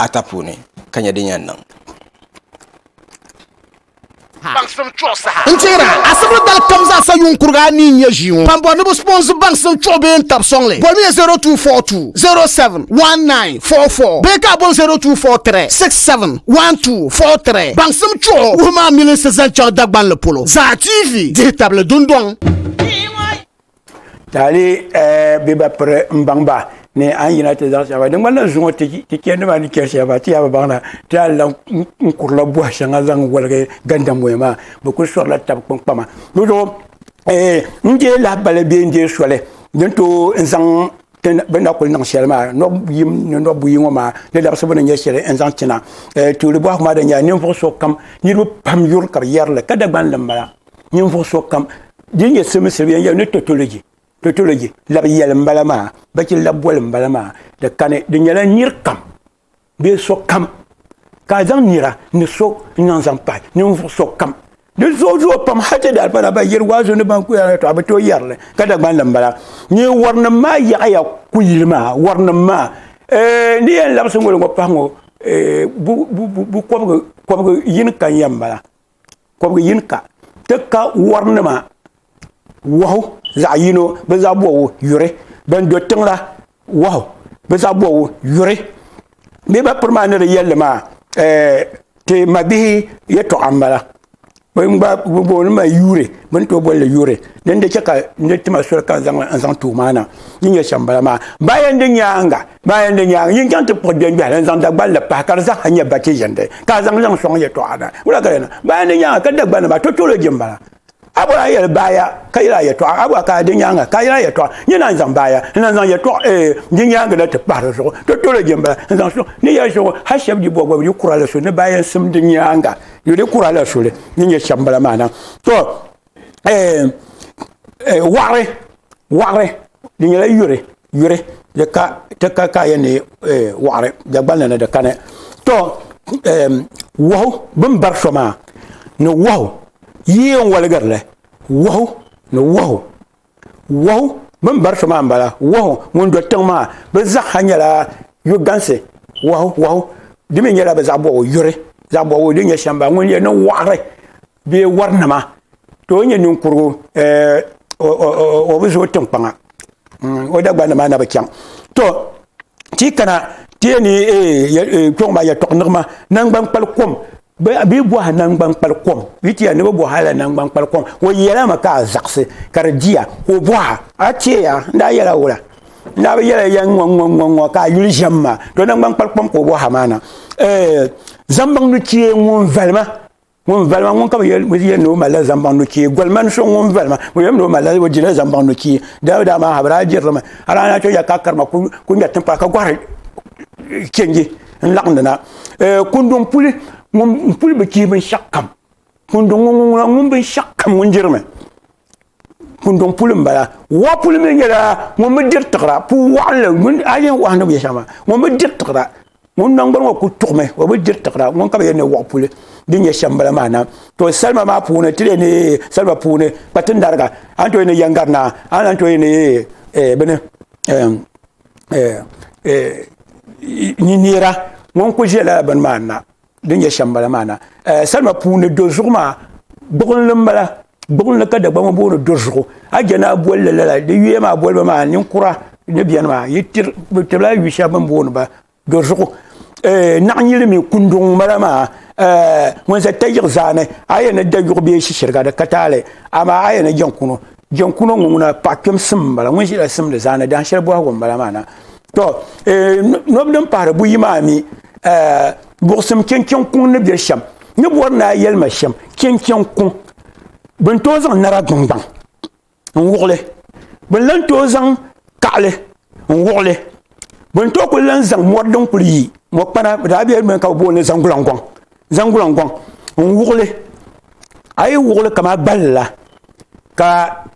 ata puuni ka nya din yɛn niŋ. baŋsim chuɣu saha. N tɛhira, asibili dali kam zaa sa yuŋ kuriga anii n-nyɛ ʒii ŋɔ. Ban bɔri ni bɛ sponsor baŋsim chuɣu bee n-tab sɔŋli, bɔlimiya 0242071944 bee ka a boli 0243671243. Baŋsim chuɣu wuhi maa milinsi zaŋ chaŋ Dagbanli polo zaa TV dihi tabili dundɔŋ. taali eh, bɛ ba piri n baŋ ba ni an yina ti zaɣ shɛŋa din ŋmanila zuŋɔ ti chɛ nima ni chɛri shɛba ti yaa bi baŋ na ti a lan n kurila bɔhi shɛŋa zaŋ waligi gandamboya maa bi ku sɔrila tabi kpaŋkpama di zuɣu eh, n je lahabali bee n je soli din to n zaŋ bɛ na kuli niŋ shɛli maa nɔb yim ni nɔb buyi ŋɔ maa di labisibu ni nyɛ shɛli n zaŋ china eh, tuuli bɔhi maa din nyɛla ninvuɣu so kam niriba pam yuri ka bi yɛrili ka Dagbanli m-bala ninvuɣu sokam din nyɛ civil civilian yɛli ni totology totology labi yɛli n bala maa bachi labi boli n bala maa di kani di nyɛla niri kam bee sokam ka a zaŋ nira ni so n zaŋ zaŋ pahi ninvuɣu sokam di zuɣu zuɣu pam hati di alipana ba yiri waazu ni ban kuya na to a bi tooi yɛrili ka dagban li n bala ni warinim maa yaɣaya kuyili maa warinim maa eh, ni yɛn labisi ŋoli ŋɔ pahi ŋɔ eh, bu kɔbigi yini kan ya n bala kɔbiga yini ka ti ka wɔrinima wahu zaɣ yino bɛ zaɣ bɔbu yuri ban do tiŋ la wahu bɛ zaɣ bɔbu yuri bee ba piri maa ni di yɛlli maa ti mabihi yɛtɔɣa m-bala bɛn gba booni maa yuuri bɛ ni tooi boli li yuuri din di chɛ ka n ti ma soli ka n zaŋ tuui maa na din yɛn shɛm m-bala maa baya n-di nyaaŋa Ba yɛn di nyaŋ yin chaŋ ti kpuɣi gbɛngbɛhili n-zaŋ Dagbanli pahi ka di zaa ha nyɛ ba chiʒindi ka a zaŋ liŋ sɔŋ yɛtɔɣa na. Wula ka di niŋ? Ba yɛn di nyaaŋa ka Dagbanli maa totology m-bala. A bɔra a yɛli baaya ka yɛli a yɛtɔɣa, a bɔra ka a di nyaaŋa ka a yɛli a yɛtɔɣa. N ni naan zaŋ baaya n-lahi zaŋ yɛtɔɣa ee di nyaaŋa na ti pahi di zuɣu, totology m-bala, n-zaŋ sɔŋ ni yɛli so ŋɔ hal shɛb di bɔbigu di kura la soli ni ba yɛn simdi nyaaŋa yo di kura la soli ni nyɛ shɛm bala maa na. To! waɣari waɣari di nyɛla yuri yuri di ka ti ka ka yɛn ni waɣari dagbanli ni di kani to wahu bin bari so maa ni wahu yi yɛn woligirili wahu ni wahu wahu bin bari so maa n bala wahu ŋun do tiŋ maa bi zaaha nyɛla yuri dansi wahu wahu di mii nyɛla bi zaɣ bobgu yuri zaɣ bobgu din nyɛ shɛm bala ŋun yɛn niŋ waɣari bee warinima ka o nyɛ ninkurigu eh, o bi zooi tinkpaŋa mm, o dagbanli maa na bi chaŋ to ti kana ti yɛ ni eh, eh, kpɛŋ maa yɛtɔɣ niɣima nangban kpali kom bɛ bɔha nangban kpali kom bɛ tiya ni bɛ bɔha la nangban kpali kom o yɛla mi ka a zaɣisi ka di diya ka o bɔha a tiɛya n daa yɛla wula n daa bi yɛla yɛn ŋɔ ŋɔ ŋɔ ŋɔ ka a yuli ʒɛm maa to nangban kpali kom ka o bɔha maa na eh, zambaŋ ni tiɛ ŋun valima ŋun valima ŋun ka bi yɛn ni o malila zambaŋ no chee golima ni so ŋun valima o yɛn ni o malila o dila zambaŋ no chee daabi daa maa ha bi daa diri limi a daa na to ya ka karima ku ŋmɛri tinkpara ka gɔhiri chenji n laɣindi na kunduŋ puli ŋun puli bi chii binshaɣu kam kunduŋ ŋun ŋun ŋun binshaɣu kam ŋun dirimi kunduŋ puli n bala wa puli mi nyɛla ŋun bi diri tiɣira puu waɣinli a yɛn waɣa ni bi yɛ shɛŋa maa ŋun bi diri tiɣira ŋun nangbani ŋɔ ku tuɣumi o bi diri tiɣira ŋun ka bi yɛn ni wɔɣi puli din nyɛ shɛm bala maa na to salima maa puuni ti yɛn ni salima puuni ka ti nariga an to yɛn ni yɛngari naa an lan to yɛn ni eh, bini eh, eh, eh, neera ŋun ku ʒila bini maa na din nyɛ shɛm bala maa na salima puuni do zuɣu maa gbuɣinli n bala gbuɣinli ka dagba ŋo booni do zuɣu a jɛ naa bolli lala di yuya maa boliba maa ninkura ni biɛni maa yi tibila yu shɛli bin booni ba do zuɣu naɣanyili mii kunduŋ n bala maa ŋun ʒɛ tayiɣi zaani a yɛn ni da yuɣu bee shishiriga di ka taali amaa a yɛn ni jɛnkunu jɛnkunu ŋo ŋuna paɣa kpɛm sim n bala ŋun ʒila simdi zaani dahin shɛli bɔhigu n bala maa na to eh, nobu din pahari buyi maa mi eh, buɣusim kɛnkɛn kuŋ ni bɛ shɛm ni bɔri naa yɛlima shɛm kɛnkɛn kuŋ bin tooi zaŋ nara dungbaŋ n wuɣili bin lan tooi zaŋ kaɣali n wuɣili bin tooi kuli lan zaŋ mɔri din kuli yi mɔkpana daa bɛ ka bi booni zaŋ gulangɔŋ zaŋ gulaŋ gɔŋ n wuɣili a yi wuɣili kama gballi la ka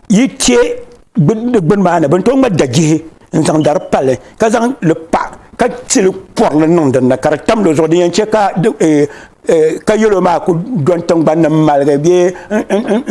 yi che di gbuni maa ni bin tom ŋa dajihi n zaŋ dari pali ka zaŋ li pa ka tili kɔrili niŋ dinni ka di tam di zuɣu din yɛn che ka eh, eh, ka yɛlo maa ku don tingbani ni maligi bee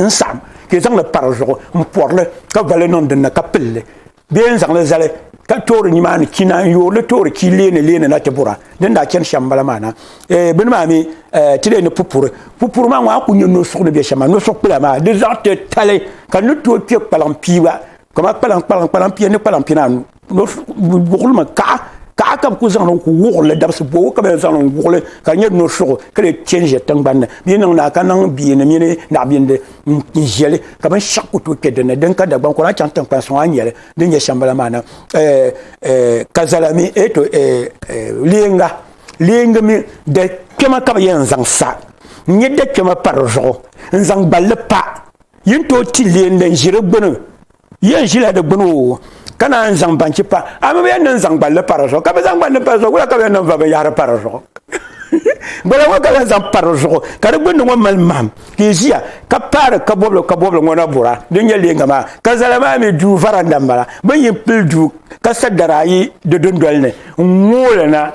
n saɣam ka zaŋ li pa di zuɣu n pɔrili ka vali niŋ dinni ka pilli bee n zaŋli zali ka toori ni maa ni ki na n yoorili toori ki leeni leeni na ti bura din daa chani shɛm bala maa na eh, bini maa mi eh, ti leeni pupuri pupuri maa ŋɔ a ku nyɛ nosuɣu ni bɛ shɛm maa nosuɣu kpula maa di zaɣ ti tali ka ni tooi kpɛ kpalaŋ piiba kama kpalaŋ kpalaŋ kpalaŋ pia ni kpalaŋ pia naanu wuɣili mi kaɣa kaɣa ka bi ku zaŋ ni ku wuɣili dabisi bɔbu ka bi zaŋ ni wuɣili ka nyɛ nosuɣu ka lee change tingbanni bɛ niŋ naa ka niŋ bia ni mini naɣabindi n ʒɛli ka binshaɣu ku tooi kpɛ dinni din ka dagbaŋ kɔra a chaŋ tinkpani sɔŋ a ni nyɛli din nyɛ shɛmbala maa na eh, eh, ka zala mi e to eh, leenga leengi mi dali kpɛma ka bi yɛn zaŋ sa n nyɛ da kpɛma pa di zuɣu n zaŋ gballi pa yin tooi ti leen din ʒi di gbuni Yen ʒila di gbuni o ka naan zaŋ banchi pa a mi bi yɛn niŋ zaŋ gballi pa di zuɣu ka bi zaŋ gballi pa di zuɣu wula ka bi yɛn niŋ va binyahari pa di zuɣu gbala ŋɔ ka bi yɛn zaŋ pa di zuɣu ka di gbunni ŋɔ mali maham ka i ʒiya ka paari ka bɔbili ka bɔbili ŋɔ na bura din nyɛ leenga maa ka zala maa mi duu varanda n bala bi yi pili duu ka sa dari ayi di dundoli ni n ŋooli na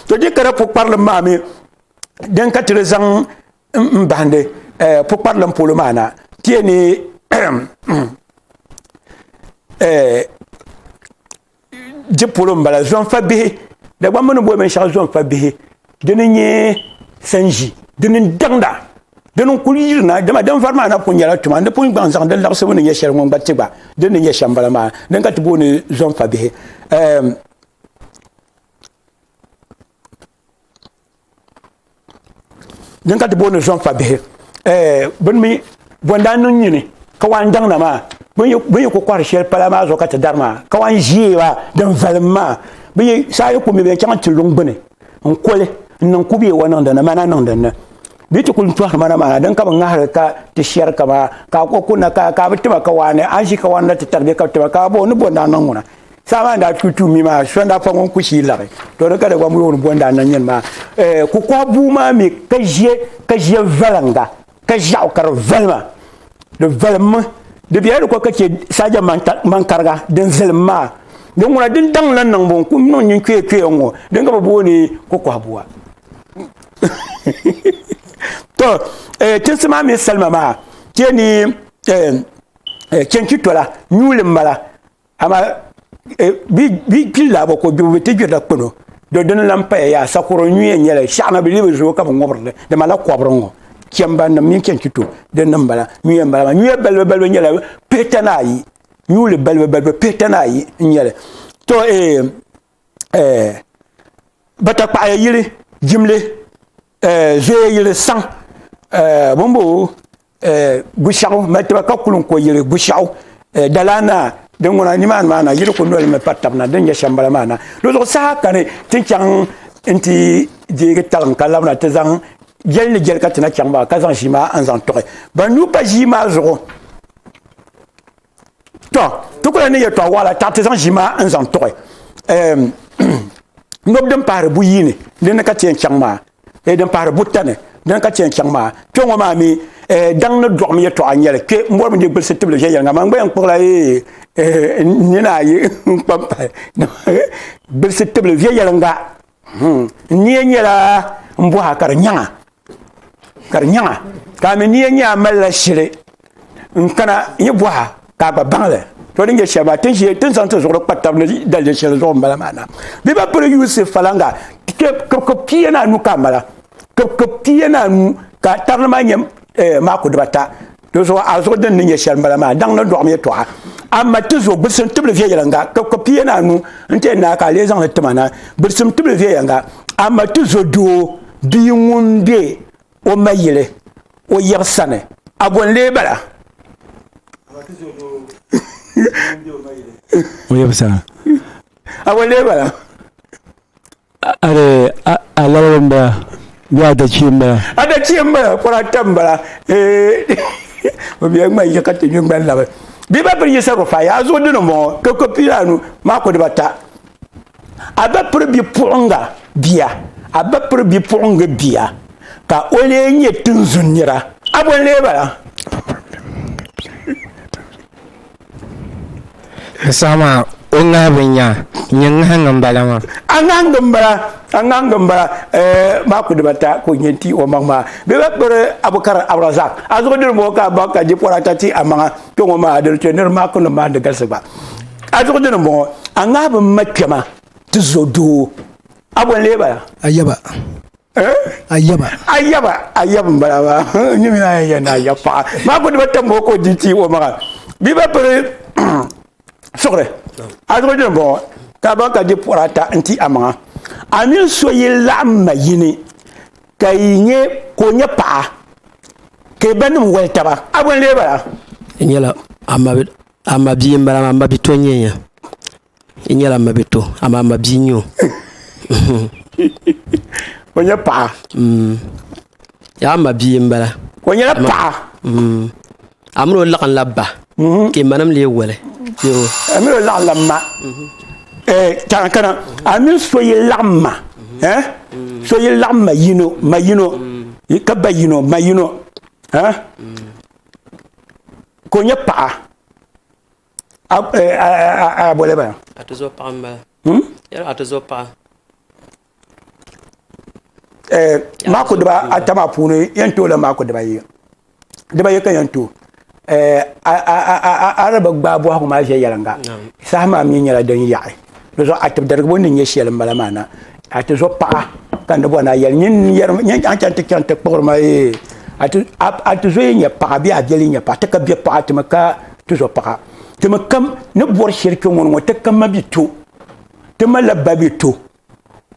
to je ka di pukparili maa mi din ka ti di zaŋ n bahindi eh, pukparilim polo maa na ti yɛn ni eh, di polo n bala zonfa bihi da gba mini boli binshaɣu zonfa bihi dini nyɛ sanji dini n daŋda dini n kuli yirina dama din vari maa na pun nyɛla tuma di pun gbaŋ zaŋ di laɣasibu ni nyɛ shɛli ŋun gba ti gba din ni nyɛ shɛm bala maa din ka ti booni zonfa bihi eh, din ka ti booni zɔn fa bihi eh, bin mi bɔndaa niŋ nyini ka wan daŋ na maa bin yi ku kɔhiri shɛli pala maa zuɣu ka ti dari maa ka wan ʒiɛ maa din valim maa bin yi saa yi ku mi bɛ chaŋ ti luŋ gbuni n koli n niŋ kubiɛ wa niŋ dinni mana niŋ dinni bɛ ti kuli tɔhiri mana maa din ka bi ŋahiri ka ti shɛri ka maa ka o kunna ka ka bi tima ka waani an ʒi ka wan na ti tari bɛ ka bi tima ka bo ni bɔndaa niŋ ŋuna Saɣama n daa tu tu mi maa so n daa fa ŋun ku shii laɣi to di ka dagba mu yooni bondaa na nyɛni maa ku kɔha buu maa mi ka ʒiɛ ka ʒiɛ valinga ka ʒiɛɣu ka di valima di valimmi di bela di ko ka chɛ saaja mankariga din zilim maa din ŋuna din daŋ la niŋbu n ku niŋ nyin kpee kpee n ŋɔ din ka bi booni ku kɔha bua to tinsi maa mi salima maa chɛ ni chɛnchi tola nyuli mala Ama eh, bi kpili laabo ko gbibu bi ti gbirila kpano do dini lan paya yaa sakoro nyuya nyɛla shɛɣana bi libi zuo ka bi ŋɔbirili di mala kɔbiri ŋɔ chɛmba nim mini chɛnchito di nim bala nyuya n bala maa nyuya balibu balibu nyɛla pihitana ayi nyuli balibu balibu pihitana ayi n nyɛli to eh eh, batakpaɣaya yili jimli eh, zoya yili saŋ eh, bin bo eh, gushɛɣu mali tiba ka kuli n ko yili gushɛɣu eh, dalaana din ŋuna nimaani maa na yili ku noli mi pa tabi na din nyɛ shɛmbala maa na di zuɣu saha ka ni ti chaŋ n ti deegi talim ka labina ti zaŋ jɛli ni jɛli ka ti na chaŋ maa ka zaŋ ʒii maa n zaŋ tɔɣi ban nuu pa ʒii maa zuɣu tɔ ti kuli ni yɛtɔɣa waɣala taɣa ti zaŋ ʒi maa n zaŋ tuɣi nobu din pahari buyi ni dini ka tiɛn chaŋ maa ee din pahari buta ni dini ka tiɛn chaŋ maa kpɛ ŋɔ maa mi ee daŋ ni dɔɣi mi yɛtɔɣa n nyɛli kpɛ n bɔri mi di gbilisi tibili viɛnyɛlinga man gbaya n kpuɣila ee ee nina ayi n kpa n pahi gbilisi tibili viɛnyɛlinga Hmm. N niya nyɛla n bɔha ka di nyaŋa ka di nyaŋa ka a mi niya nyɛ a malila shili n kana n yi bɔha ka a gba baŋli to din nyɛ shɛli maa tin ʒiɛ tin zaŋ ti zuɣuri kpa tab ni dalili shɛli zuɣu n bala maa na bɛ ba pili yuusi falaŋa kibikib pia ni anu ka a mala kibikib pia ni anu ka tarili maa nyɛ eh, maako dibata Dozo a zuɣu din ni nyɛ shɛli m-bala maa, daŋ ni dɔɣim yɛtɔɣa. Amma ti zo gbidisim tibili viɛnyɛliŋga, ka kpe piyɛnaanu n-ti n naa ka a lee zaŋ li ti ma na. Gbidisim tibili viɛnyɛliŋga, amma ti zo doo bia ŋun be o ma yili o yiɣi sani, a bo n-lee bala? alabali n bala bee adachia n bala adachia n bala kura ata n bala o biɛni ŋmani yi ka ti nyu ŋmani labi bia ba piri yisa rufa yaa zuɣu dini n bɔŋɔ ka ko pii anu maa ko dibata a ba piri bipuɣunga bia a ba piri bipuɣungi bia ka o lee nyɛ tinzun nira a bo n lee bala N saha maa o ŋahibu n nya nyɛ ŋahingi n bala maa. A ŋahingi n bala, a ŋahingi n bala eh, maa ku dibata ka o nya n-ti o maŋ maa. Bɛ ba kpiri Abu Kar Abrazak, a zuɣu diri m-bɔŋɔ ka a baŋ ka jipɔri ata ti a maŋa kpe ŋɔ maa, a di ni chɛ nir maa kundin maa ni galisi gba. A zuɣu dini m-bɔŋɔ, a ŋahibu m-ma kpɛma ti zo doo. A bɔ n-leei ba la? A yaba. ayaba ayaba ayaba n bala maa n nyɛ mina yɛn na ayaba paɣa maa ko diba tam o ko di ti o maŋa bi ba piri suɣuri a zuɣu dini bɔŋɔ ka ba ka di puɣura ata n ti a maŋa a mini so yi laɣam ma yini ka yi nyɛ ka o nyɛ paɣa ka ba nim wali taba a bɔn lee bala n nyɛla a ma bia n bala maa ma bi to n nyɛ I nyɛla mabito amaa mabia n nyɛ o. o nyɛ paɣa. Mm. yaa mabia n bala. o nyɛla paɣa. Mm. a mini o laɣim la ba. Mhm. ka imanim lee wali. a mini o laɣim la ma. Mhm. Eh, kana kana a mini so yi laɣim ma mhm. eh? so yi laɣim ma yino ma yino ka ba yino ma yino eh? ka o nyɛ paɣa a bole ba a ti zo paɣa m-bala hmm? yɛli a ti zo paɣa eh, maako diba ata maa puuni yɛn tooi la maako diba yi diba yi ka yɛn tooi eh, a raba gbaai bɔhigu maa ʒe yɛlinga saha maa mi nyɛla din yaɣi di zuɣu a tibidarigibo ni nyɛ shɛli n bala maa na a ti zo paɣa ka ni bɔ na yɛli nyɛ a chɛŋ ti chɛŋ ti kpuɣiri ma ee a ti zo yi nyɛ paɣa bee a biɛli nyɛ paɣa ti ka bɛ paɣa ti mi ka ti zo paɣa ti mi kam ni bɔri shɛli kpɛ ŋɔ ŋɔ ti ka ma bi to ti malila ba bi to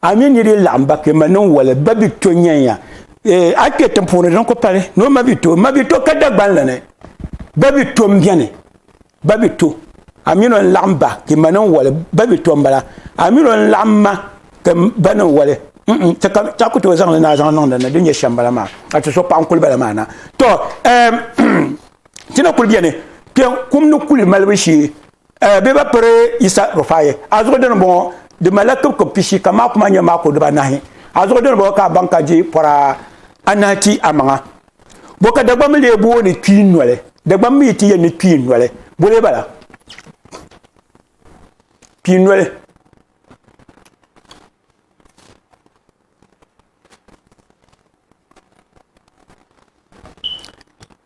a mi ni di laɣam ba kpɛ ma niŋ wali ba bi to nyɛnya eh, a kpɛ tiŋ puuni din ku pali ni o ma bi to ma bi to ka dagbanli ni ba bi to n biɛni Babito, a mi lɔn laɣim ba ti ma ni n wali, babito n bala, a mi lɔn laɣim ma ti ba ni n wali, mm, ti ka ti a ku tooi zaŋ li ni a zaŋ niŋ din ni, din nyɛ shɛm bala maa, ka ti so paɣa n kuli bala maa na. Tɔ, ɛɛm, ti na kuli beni kpe kum ni kuli malibu shee, ɛɛ, bɛ ba piri Yisa Rufai, a zuɣu dini m-bɔŋɔ, di malila kibikib pishi ka maako maa nyɛ maako dibaa nahi, a zuɣu dini m-bɔŋɔ ka a baŋ ka di pɔra anahi ti a maŋa. Bo ka Dagbamba lee booni kpii noli? Dagbamba mi ti yɛli ni kpii noli. Bo lee bala? Kpii noli.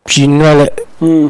Kpii noli. Hmm.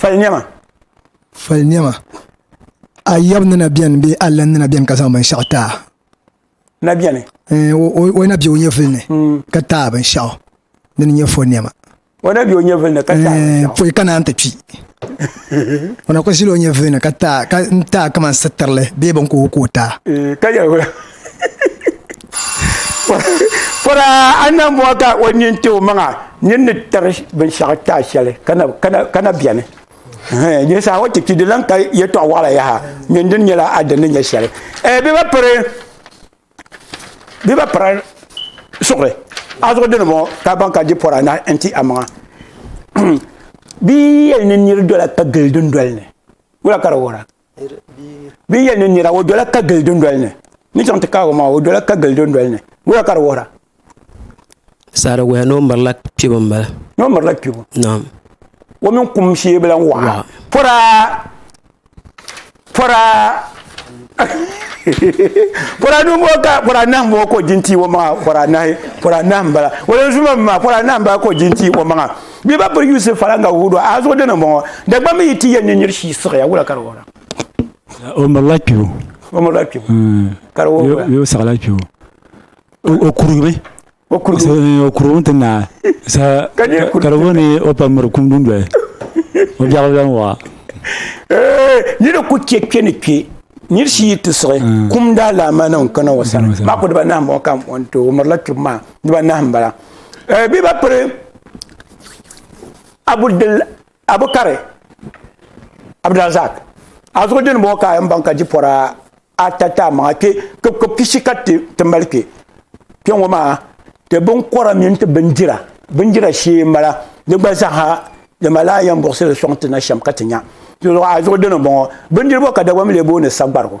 fali niɛma fali niɛma a yɛbu ni na biɛni bee a lan ni na biɛni ka zaŋ binshaɣu taa na biɛni eh, o na bɛ o nyɛvuli ni hmm. ka taa binshaɣu din nyɛ fo niɛma o na bɛ o nyɛvuli ni ka taa eh, poi ka naan ti kpi o na kuli ʒila o nyɛvuli ni ka taa kamani sitirili bee bin ka o ka o taa eh, Pɔraa a ni na mɔɣi ka o nyin ti o maŋa nyin ni tiri binshɛɣu taai shɛli ka na bɛni nyɛ saha o ti kpi di lan ka yɛtɔɣ waɣila yaha nyin dini nyɛla a dini ni nyɛ shɛli ɛɛ bɛ ba piri bɛ ba piri suɣuri a zuɣu dini ŋɔ ka ban ka di pɔra na n-ti a maŋa bɛ yɛli ni niri dola ka gili dundoli ni wula ka di wuhira bi yɛli ni nira o dola ka gili dundoli ni ni chaŋ ti kaagi maa o dola ka gili dundoli ni wuhira ka di wuhira sariguya ni o mirila kpibu n bala ni o mirila kpibu naam o mini kum shee bi lan waɣa pora pora pora ni ŋo ka pora nahi ŋo ka o jinti o maŋa pora nahi pora nahi n bala o lan zuma mi maa pora nahi n bala ka o jinti o maŋa Bɛ ba piri Yusuf fara nga wuhi do a zuɣu dini m-bɔŋɔ, Dagbaŋ mi yi ti yɛn ni nir shii siɣiya, wula ka di wuhira? O mirila kpibu. O mirila kpibu. Ka di wuhi wula? Bee o siɣila kpibu. O kurigimi. O kurigimi. O kurigimi ti naai. Ka di wuhi ni o pa miri kum dundoli. O biɛɣu bi lahi waɣa. Ni di ku chɛ kpe ni kpe nir shii yi ti siɣi, kum daalaamaanahu n-kana o sani. Maa ku dibanahi m-bɔŋɔ ka m-bɔŋɔ n-ti o. O mirila kpibu maa dibanahi m-bala. eh, bɛ ba piri abudil abukari abdulrazak a zuɣu dini bɔŋɔ ka a yɛn baŋ ka ji pɔra ata ta maŋa kpe ka pishi ka ti mali kpe kpe ŋɔ maa ti binkɔra mini ti bindira bindira shee mala di gba zaaha di malaa yɛn buɣusili sɔŋ ti na shɛm ka ti nya a zuɣu dini bɔŋɔ bindirigu ka dagba mi lee booni sagbarigu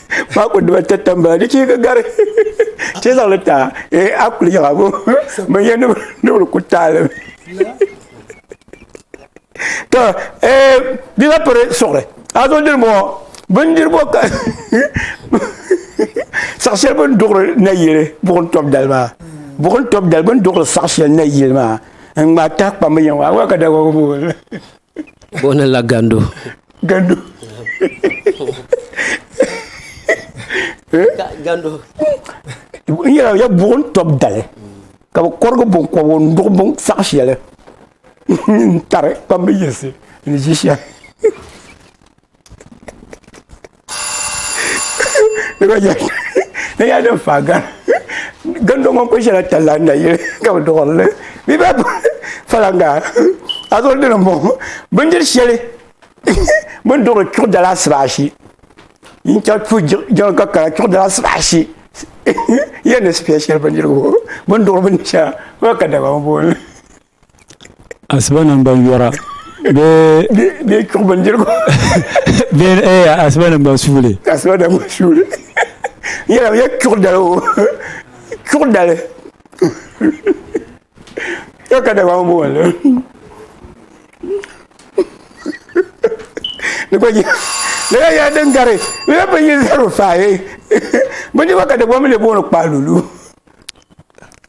ba ku diba ta tambala di chee ka gari chee zaŋli ta eh, a kuli yaga bo ban yɛ nubili ku taalim to eh, di la piri suɣuri a zo diri bɔ bindiribo ka saɣa shɛli bin duɣuri na yili buɣum tɔbu dali maa buɣum tɔbu dali bin duɣuri saɣa shɛli na yili maa n ŋmaa tahi kpambi yɛn waa ka dagbagu Bo ni la gandu. Gandu. gandu. N yɛra ya buɣim tɔb dali ka bi kɔrigi binkɔbigu n duɣi bin saɣi shɛli n tari kpambi yiɣisi ni ʒi shɛli. ne ya din fa gan gan do ŋun ko shɛla talla n na yili ka bi duɣirili bi ba falanga a zo dini n bɔŋɔ bindiri shɛli bin duɣiri chuɣu dala asiba ashi n chɛ tu jiŋ ka kala chuɣu dala asiba ashi yɛn ni spɛ shɛli bindirigu bin duɣiri bindiri shɛŋa n ba ka dabam n booni asiba nim ban yɔra bee bee chuɣu bindirigu bee ee asiba nim ban suuli asiba nim ban suuli yɛla yɛ chuɣu dali o chuɣu dali yɛ ka dama o bɔɔli ni gba yɛ ni gba yɛ din gari ni gba bin yi zaro faaye bindirigu ka dama mi le bɔɔli kpaalulu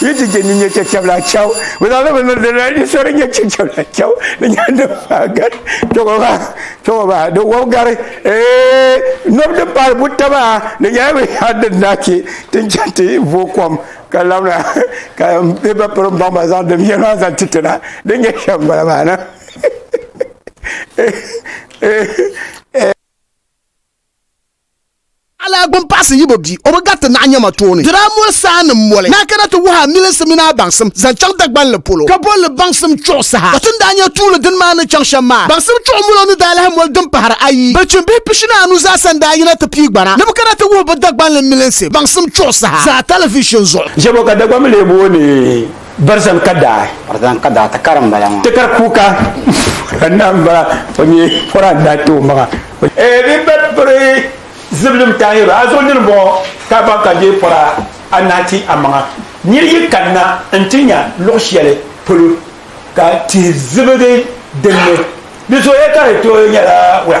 Yi ti je ni nyɛ chɛchɛbila chɛw. Bɛ zaŋ li bi ni dina ni so di nyɛ chɛchɛbila chɛw. Di nyɛla din maa gari. Tɔgɔ maa tɔgɔ maa di wɔbi gari. Ee nɔbi din paali buta maa di nyɛla bɛ yaa din daa che ti ni chaŋ ti vo kom ka labina ka bɛ ba piri baŋ ba zaŋ din yɛli maa zaŋ ti tina di nyɛ shɛm bala maa na. Alaagbo m-paɣisi Yibo bia, o bi gariti naɣinyɛma tooni. Dira m-moli saa ni m-moli ni a kana ti wuhi a milinsi mini a baŋsim zaŋ chaŋ Dagbanli polo, ka boli li baŋsim chuɣu saha. Ka ti ni daa nya tuuli dini maa ni chaŋ shɛm maa, baŋsim chuɣu molo ni daa lahi moli din pahiri ayi. Bilichini bihi pishini anu zaasa n-daa yina ti pii gbana ni bɛ kana ti wuhi bɛ Dagbanli milinsi baŋsim chuɣu saha zaa talivishin zuɣu. Jɛbo ka Dagbanmi lee booni Barzan ka daa. Barzan ka daa tikari n bala maa. Tikari kuuka ka naa n bala o nyɛ pora n daa ti o maŋa. Ee din be piri zibilim tahiru a zuɣu nini bɔŋɔ ka baŋ ka dee pora anahi ti a maŋa. Niri yi kanna n ti nya luɣi shɛli polo ka tihi zibigi dinni di zooya ka di tooi nyɛla wula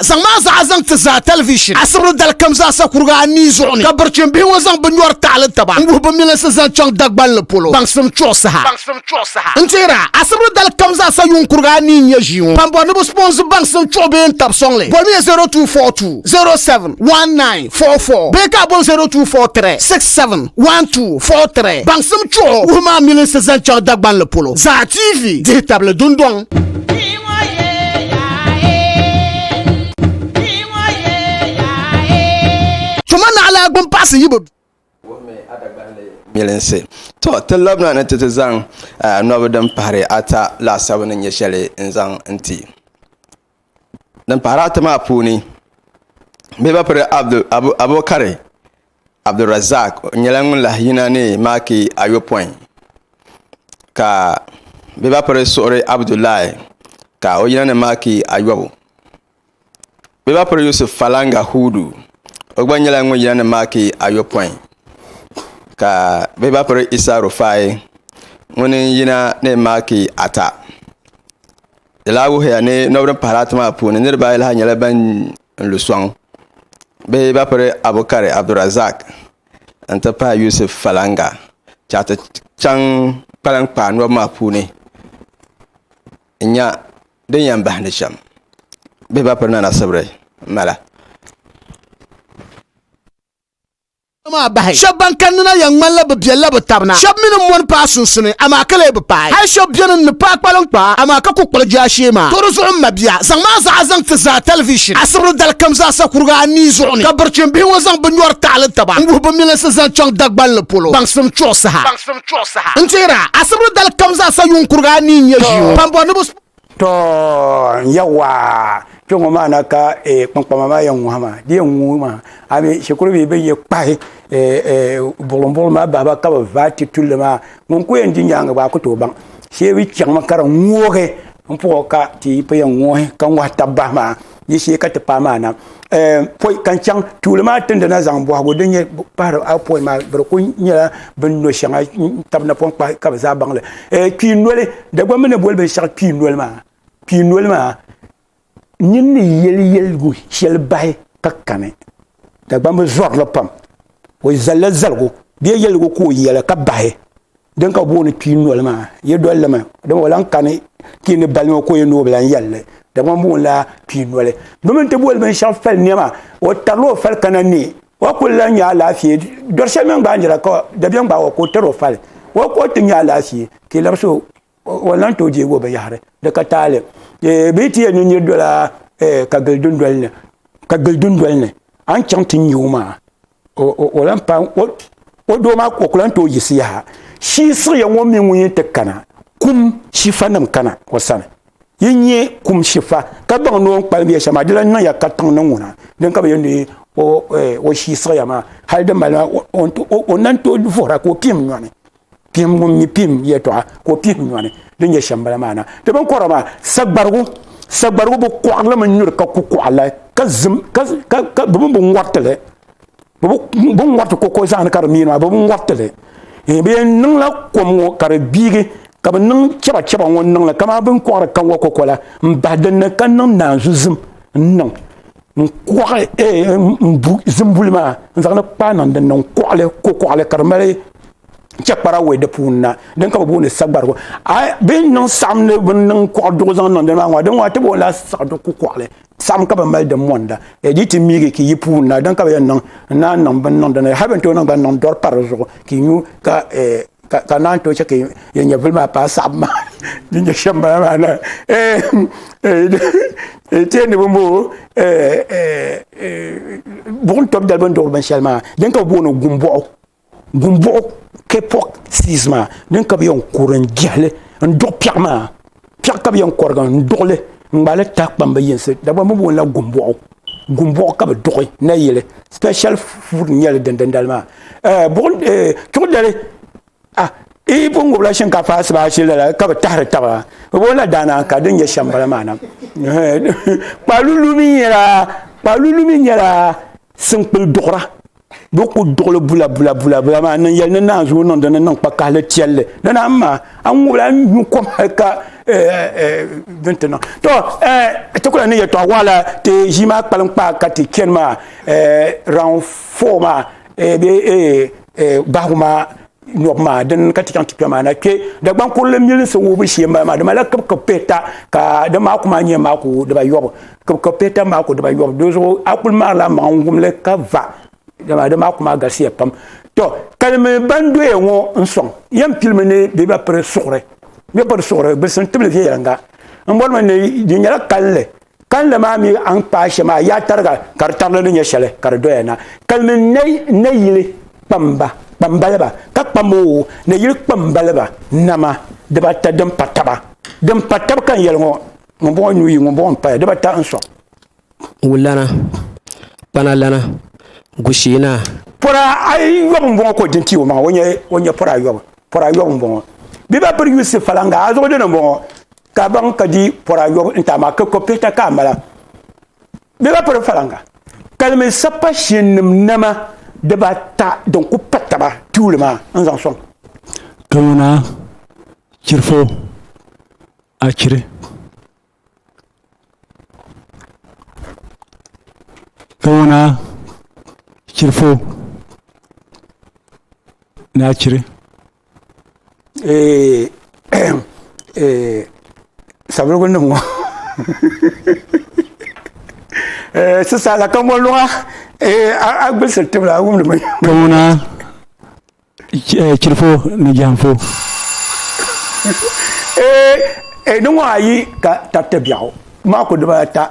zaŋ maa zaa zaŋ ti zaa tɛlivishin asibili dalikam zaasa kuriga anii zuɣu ni ka birichim bihi ŋɔ zaŋ bi nyɔri taɣili taba n-wuhi bi milinsi zaŋ chaŋ Dagbanli polo baŋsim chuɣu saha. N tihira, asibili dalikam zaasa yuŋ kuriga anii n-nyɛ ʒii ŋɔ. Ban bɔri ni bi sponsor baŋsim chuɣu bee n-tab sɔŋli, bɔmiya 0242071944 bee ka a bɔn 0243671243 baŋsim chuɣu wuhi maa milinsi zaŋ chaŋ Dagbanli polo zaa TV dihitabli dundɔŋ. Tuma naɣila gbumpaɣisi yi bi. Wuhimi a Dagbanli milinsi. Tɔ! Ti labina ni ti ti zaŋ nɔbi din pahiri ata laasabu ni nyɛ shɛli n-zaŋ n-ti. Din pahiri ata maa puuni, bɛ ba piri Abu Abubakari Abdulrazaq nyɛla ŋun lahi yina ni maaki ayopɔin ka bɛ ba piri suɣuri Abdullahi ka o yina ni maaki ayɔbu bɛ ba piri Yusuf Falanga Hudu o gba nyɛla ŋun yina ni maaki ayopɔin ka bɛ ba piri Isa Rufai ŋun yina ni maaki ata di lahi wuhiya ni niriba ayi lahi nyɛla ban n lu sɔŋ bɛ ba piri Abukari Abdulrazak n ti pahi Yusuf Falanga ka ti chaŋ kpalankpaa nɔbu maa puuni n nya din yɛn bahi ni shɛm bɛ ba piri Nana Sibiri mala. maa bahi. Shɛb ban kanni na yɛn ŋmanila bɛ biɛlila bɛ tab na. Shɛb mi ni mɔni paai sunsuni, amaa ka lee bi paai. Hal shɛb beni n-ni paai kpaliŋkpaa, amaa ka ku kpuɣi jaashee maa. Toori zuɣu m mabia, zaŋm a zuɣu a zaŋ ti zaa tɛlivishin asibili dalikam zaasa kurigi anii zuɣu ni, ka birichim bihi ŋɔ zaŋ bɛ nyɔri taɣili taba n-wuhi bɛ milinsi zaŋ chaŋ Dagbanli polo baŋsim chuɣu saha. N tihira, asibili dalikam zaasa yuŋ kurigi anii n-nyɛ ʒii ŋɔ. Kpambɔridiba To yawa kpe ŋɔ maa na ka eh, kpankpama maa yɛn ŋuhi maa di yɛn ŋuhi maa a mi shikuru bihi bin yɛ kpahi eh, eh, buɣilim buɣilim maa bahiba ka bi vaai ti tulli maa ŋun ku yɛn di nyaanga gba a ku tooi baŋ shee bi chaŋ mi ka di ŋuhi n puɣi ka ti yi pa yɛn ŋuhi ka ŋuhi tabi bahi maa ni shee ka ti paai maa na poi ka n chaŋ tuuli maa tindina zaŋ bɔhigu din nyɛ pahari a poi maa biri ku nyɛla bin no shɛŋa tabi napɔŋ kpahi ka bi zaa baŋli kpii noli dagba mi ni boli binshɛɣu kpii noli maa kpii noli maa nyin ni yeli yeligu shɛli bahi ka kani dagba mi zɔrili pam o zalila zaligu bee yeligu ka o yɛli ka bahi din ka booni kpii noli maa ye doli limi dama o lan kani ti ni balima ko ye ni o bi lan yɛlli dama booni la kpii noli domin ti boli binshɛɣu fali nɛma o tarila o fali kana ni o kuli lan nya alaafee dɔri shɛli mini gbaanjira ka dabiɛm gbaag o ka o tari o fali o ka o ti nya alaafee ti labisi o o lan tooi deegi o binyɛhiri di ka taali bee ti yɛn ni nir dola ka gili dundoli ni ka gili dundoli ni a ni chaŋ ti nya o maa o lan pa o doo maa o ku lan tooi yiɣisi yaha shii siɣiya ŋɔ mi ŋun yɛn ti kana kum shifa nim kana o sani yi nyɛ kum shifa ka baŋ ni o ni kpalim yɛ shɛm maa di lan niŋya ka tiŋ ni ŋuna din ka bi yɛn di o shii siɣiya maa hali di mali maa o nan tooi vuhira ka o kpiim nyɔni pihim ŋun mi pihim yɛtɔɣa ka o pihim nyɔni din nyɛ shɛmbala maa na ti bin kɔrɔ maa sagbarigu sagbarigu bi kɔɣilimi nyuri ka ku kɔɣila ka zim ka ka bi mini bi ŋɔritili bi bi ŋɔriti koko zaani ka di miini maa bi bi ŋɔritili bi yɛn niŋla kom ŋɔ ka di gbiigi ka bi niŋ chɛba chɛba ŋɔ niŋli kamani bin kɔɣiri kaŋwa koko la n bahi dinni ka niŋ naanzu zim n niŋ n kɔɣi n bu zimbuli maa n zaŋli kpaa niŋ dinni n kɔɣili ko kɔɣili ka di mali chɛkpara wɛ di puuni na din ka bi booni sagbarigu a bi niŋ saɣim ni bi niŋ kɔɣi duɣu zaŋ niŋ dini maa ŋɔ din ŋɔ a ti booni la siɣidu ku kɔɣili saɣim ka bi mali di monda e di ti miigi ka yi puuni na din ka bi yɛn niŋ n naan niŋ bin niŋ dinni hali bin tooi niŋ gba n niŋ dɔri pa di zuɣu ka nyu ka ka naan to chɛ ka yɛn nyɛvili maa paai saɣabu maa din nyɛ shɛm bala maa na tee ni bɔmboo buɣum tɔb dali bin duɣuri binshɛli maa din ka bi booni gumbuɣu gumbuɣu kpɛ pɔɣ siis maa din ka bi yɛn kurim jɛhili n duɣu piɛɣu maa piɛɣu ka bi yɛn kɔrigi n duɣili n ŋmaali tahakpambi yinsi dagba mi boonila gumbɔɣu gumbɔɣu ka bi duɣi nayili special food n nyɛli din dindali maa eh, eh, tuɣudali ah, i pun ŋubila shinkaafa asibaashi lala ka bi tahari taba bi boonila daana ka din nyɛ shɛm bala maa na eh, kpaalulu mi nyɛla kpaalulu mi nyɛla sinkpili duɣura bɛ ku duɣili bula bula bula bula maa niŋ yɛli ni naan zuo niŋdi ni niŋ kpakahili tiɛlli ni na ma a ŋubila n nyu kom hali ka din ti niŋ to ti kula ni yɛtɔɣa waɣala ti ʒii maa kpalim kpaa ka ti chɛni maa round four maa bee bahigu maa nyɔbu maa din ka ti chaŋ ti kpɛ maa na kpɛ Dagbaŋ kurili milinsi wuhibu shee m-bala maa dama la kibikib pihita ka di maa ku maa nyɛ maa ku dibayɔbu kibikib pihita maa ku dibayɔbu di zuɣu a kuli maarila maŋa n-wum li ka va dama di maa ku maa galisiya pam to kalimi ban doya ŋɔ n-sɔŋ yɛn pilimi ni bɛ ba piri suɣuri bɛ piri suɣuri gbilsim tibili viɛnyɛliŋga m-bɔrimi ni di nyɛla kalinli Kalinli maa mi a ni kpaai shɛm a yaa tariga ka di tarili ni nyɛ shɛli ka di doya na. Kalimi nayili kpamba, kpambaliba, ka kpam o nayili kpambaliba nama dibaata din pa taba. Din pa tab ka n yɛli ŋɔ, ŋumbɔŋɔ nyu yi, ŋumbɔŋɔ m-paya, dibaata n-sɔŋ. Wulana, kpanalana, gushiinaa. Pɔra ayɔbu m-bɔŋɔ ka o di n-ti o maŋa, o nyɛ pɔra ayɔbu, pɔra ayɔbu m-bɔŋɔ. Bibapiri Yusuf Falanga, a zuɣudini m-bɔŋɔ, ka baŋ ka di pɔra yɔbu n-ti a maa ka kɔpihita ka a mala. Bɛ ba piri falaŋa. Kalimi sapashiɛnnim nama dibaata din ku pa taba tuuli maa n-zaŋ sɔŋ. Tooni a chiri fo, a chiri. Tooni a chiri fo, ni a chiri. savelugu nim ŋɔ sisa la ka mɔri luŋa a gbilsiri tibila a wumdi bin Kamuna chirifo ni jɛmfo. Di ŋɔ ayi ka tariti biɛɣu maa ku dibaa ata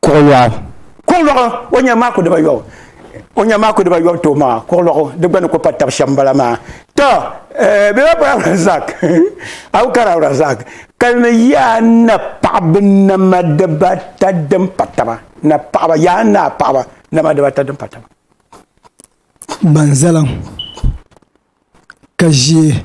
kuɣulɔɣu. Kuɣulɔɣu, o nyɛmi maa ku dibayɔbu. O nyɛmi maa ku dibayɔbu tooi maa, kuɣulɔɣu, di gba ni ku pa tab shɛm m-bala maa. Tɔ! Eh, bɛ ba bɔri Abdulrazak, Abu Kar Abdulrazak, ka ni yaa napaɣiba nama dibaata din pa taba, napaɣiba, yaa napaɣiba nama dibaata din pa taba. Banzalaŋ, ka ʒiɛ.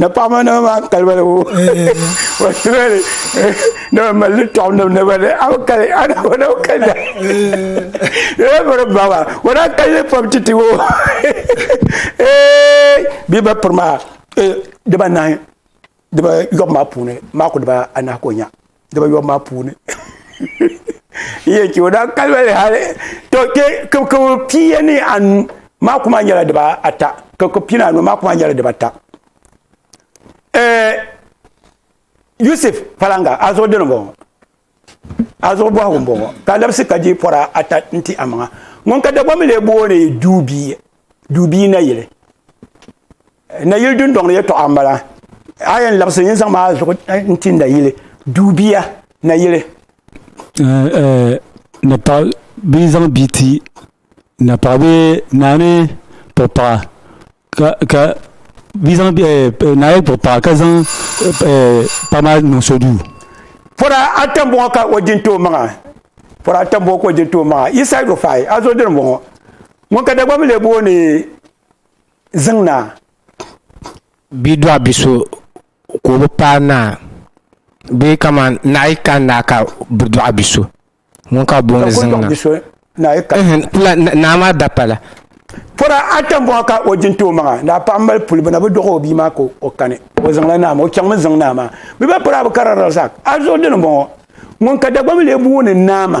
na paɣaba na maa kaliba la wo wa sibɛli na ba mali tɔɣu na na ba ni aw kali ana wa na kali da ee bari baba wa na kali ni pam titi wo ee bi ba piri maa ee diba nahi diba yɔbu maa puuni maa ku diba anahi ka o nya dibayobu maa puuni yɛ chɛ o daa kalibali hali to kpɛ kibikibili pia ni anu maa kuma nyɛla diba ata kibikibili pia ni anu maa kuma nyɛla diba ata eh, yusuf palanga a zuɣu dini bɔŋɔ a zuɣu bɔhigu n bɔŋɔ ka labisi ka di pɔra ata n ti amaŋa ŋun ka dagbaŋ mi lee booni duubi duubii nayili nayili dundoŋ ni yɛtɔɣa n bala a yɛn labisi yɛn zaŋ maa zuɣu n ti nayili duubiya nayili ni paɣa bia zaŋ bia ti na paɣa bee naa ni kpuɣi paɣa ka ka bia zaŋ naa yɛn kpuɣi paɣa ka zaŋ paɣa maa niŋ so duu pɔra ata n bɔŋɔ ka o di n tooi maŋa pɔra ata n bɔŋɔ ka o di n tooi maŋa yi said o faai a zo dini n bɔŋɔ Ŋun ka Dagbaŋ lee booni Ziŋ Naa. Bia dɔɣi bi so ka o bi paai naa bee kaman naɣa yi kani naa ka bi dɔɣi bi so ŋun ka booni Ziŋ Naa. Naa maa dapala. Pɔra ata m-bɔŋɔ ka o jin ti o maŋa. Daa paɣa m-mali puli bɛ na bi dɔɣi o bia maa ka o kani o Ziŋ la naa maa. O chaŋmi Ziŋ Naa maa. Bɛ ba pɔra bi kari Razak. Azuɣu dini m-bɔŋɔ. Ŋun ka Dagbaŋ lee booni Naama.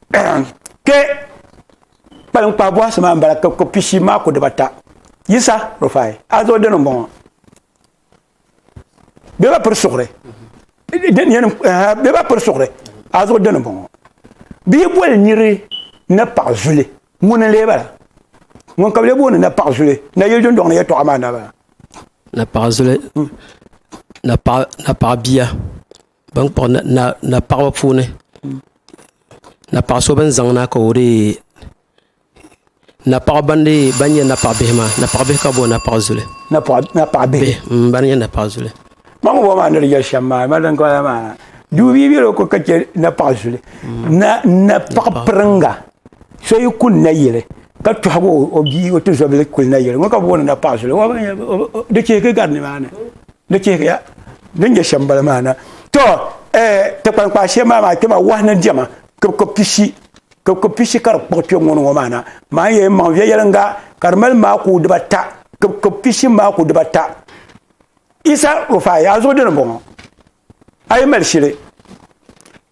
kɛ kpalim kpaa bɔhisi maa m-bala ka ko pishi maa ko dibata yisa rufai azo dini m-bɔŋɔ bɛ ba piri suɣuri bɛ ba piri suɣuri azo dini m-bɔŋɔ bia boli niri ni paɣa zuli ŋuni n-lee bala ŋun ka bɛ lee booni na paɣa zuli na yili dundɔŋ ni yɛtɔɣa maa n-daa bala na paɣa zuli na paɣa bia ban kpuɣi na paɣaba puuni na paɣa so bin zaŋ na ka o dee na paɣa ban nyɛ na paɣa bihi maa na paɣa bihi ka bi bɔni na paɣa zuli ban nyɛ na paɣa zuli kpam ŋɔ maa ni di yɛli shɛm maa mali din kɔla maa duu bia bɛ loko ka chɛ na paɣa zuli na na paɣa piringa so yi kuli na yili ka tɔhigi o bia o tizɔbili kuli na yili ŋɔ ka bi bɔni na paɣa zuli di chihigi gari nimaani Di chihiriya ni nyɛ shɛm bala maa na. To eh, ti kpankpaa shee maa maa kpɛma wahi ni diɛma kibiko pishi kibiko pishi ka di kpuɣi kpɛ ŋɔ ni ŋɔ maa na. Maa n yɛn maŋ viɛnyɛliŋga ka di mali maaku dibata kibiko pishi maaku dibata. Isa Rufai a zuɣu dini bɔŋɔ a yi mali shili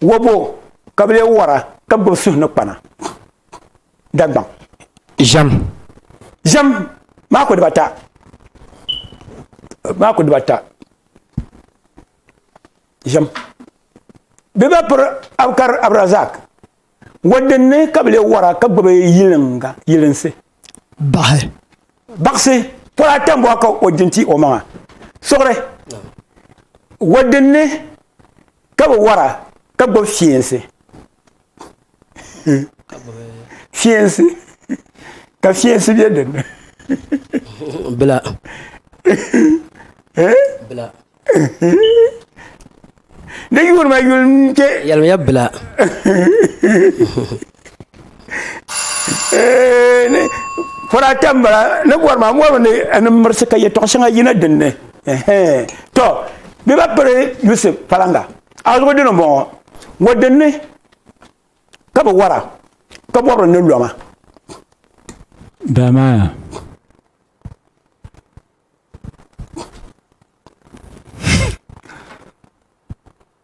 wabo ka bi lee wara ka gbubi suhu ni kpana. Dagbaŋ. Ʒɛm. Ʒɛm maa ku dibata. Maa ku dibata. Ʒɛm. Bɛ ba piri Abukar Abdurazak. Wadinni ka bɛ lee wara ka gbubi yiliŋga yilinsi. Baɣi. Baɣisi. Pɔla ata m-bɔŋɔ ka o di n-ti o maŋa. Suɣuri. Wadinni. ka bi wara ka gbubi fiɛnsi fiɛnsi ka fiɛnsi bɛ dinni bila bila di yuuni ma yuli n kpɛ yɛlimiya bila Furaata n bala ni bɔri maa mɔri ni ni mirisi ka yɛtɔɣa shɛŋa yina dinni tɔ bɛ ba piri Yusuf palaŋa azugu dini n bɔŋɔ mɔdini ka bɛ wara ka bɔbiri ni lɔma. Damaaya.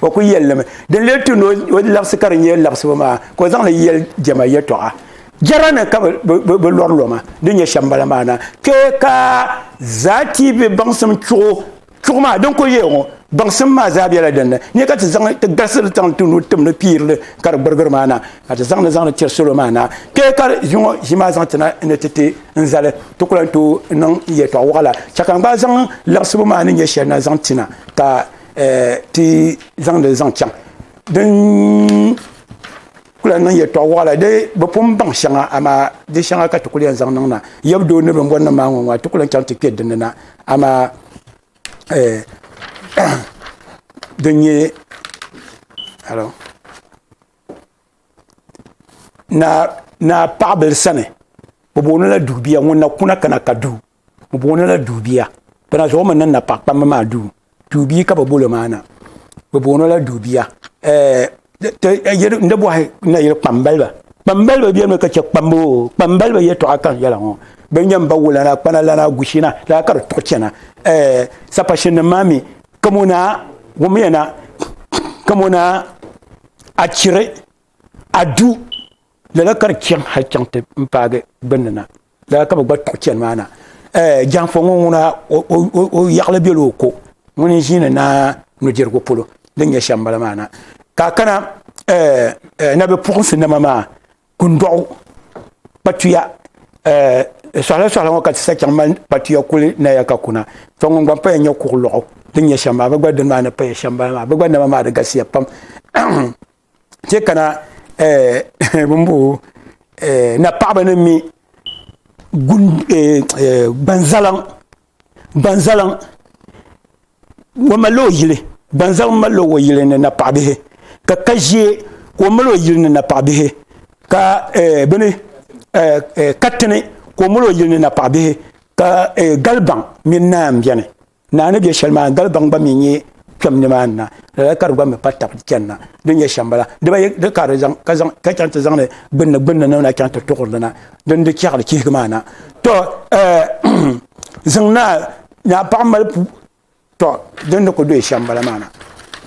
o ku yɛli limi din lee tu ni o labisi ka di nyɛ labisibu maa ka o zaŋli yɛli jɛma yɛtɔɣa jɛra ni ka bi lɔri loma din nyɛ shɛm bala maa na kpɛ ka zaati bɛ baŋsim chuɣu chuɣu maa din ku yɛ ŋɔ baŋsim maa zaa bɛla din ni nyɛ ka ti zaŋ ti galisiri zaŋ ti nu tim ni piirili ka di gbirigiri maa na ka ti zaŋli zaŋli tiri salo maa na kpɛ ka ʒiŋɔ ʒi maa zaŋ tina ni ti ti n zali ti ku lahi tooi niŋ yɛtɔɣa waɣala chɛ ka n gba zaŋ labisibu maa ni nyɛ shɛli na zaŋ tina ka ti zaŋdi zaŋ chaŋ din kula niŋ yɛtɔɣ waɣila di bi pun baŋ shɛŋa amaa di shɛŋa ka ti kuli yɛn zaŋ niŋ na yɛbudoo ni bimbɔri nim maa ŋɔ ŋɔ ti kuli yɛn chaŋ ti kpɛ dinni na amaa din nyɛ naa paɣibil sani bɛ booni la duubiya ŋun na kuna kana ka du. bi booni la duubiya bana zuɣu mi niŋ na paɣa kpambi maa duu duubii ka bi bolo maa na bi booni la duubiya n di bɔhi na yili kpambaliba kpambaliba bɛ mi ka chɛ kpambu o kpambaliba yɛtɔɣa ka n yɛla ŋɔ bin nyɛ n ba wulana kpana lana gushina laa ka di tuɣi chɛna sapashin nim maa mi kamo naa wummiya na kamo naa a chiri a du lala ka di chaŋ hali chaŋ ti n paagi gbunni na daa ka bi gba kpuɣi chɛni maa na eh, jɛnfɔ ŋɔ ŋuna o yaɣili bɛla o ko ŋuni n ʒiini naa nudirigu polo din nyɛ shɛm bala maa na ka kana eh, eh, na bi puɣinsi nama maa kundɔɣu kpatuya eh, sɔhila sɔhila ŋɔ ka ti sa chaŋ mali kpatuya kuli naya ka kuna fɔ ŋun gba paya nyɛ kuɣu lɔɣu din nyɛ shɛm maa bi gba dini maa ni paya shɛm bala maa bi gba nama maa di galisiya pam chɛ kana bimbo na paɣaba ni mi gbanzalaŋ gbanzalaŋ o malila o yili gbanzaliŋ malila o yili ni napaɣa bihi ka ka ʒiɛ ka o mali o yili ni napaɣa bihi ka bini katini ka o mali o yili ni napaɣa bihi ka galibaŋ mini naanbiɛni Naa ni be shɛli maa galibaŋ gba mi nyɛ kpɛm nimaani na lala ka di gba mi pa tab chani na din nyɛ shɛm bala di ba yɛ ka di zaŋ ka zaŋ ka chaŋ ti zaŋli gbunni gbunni ni na chaŋ ti tuɣiri li na din di chɛɣili chihigi maa na to ziŋ naa naa paɣa mali pu to din ni ku doyi shɛm bala maa na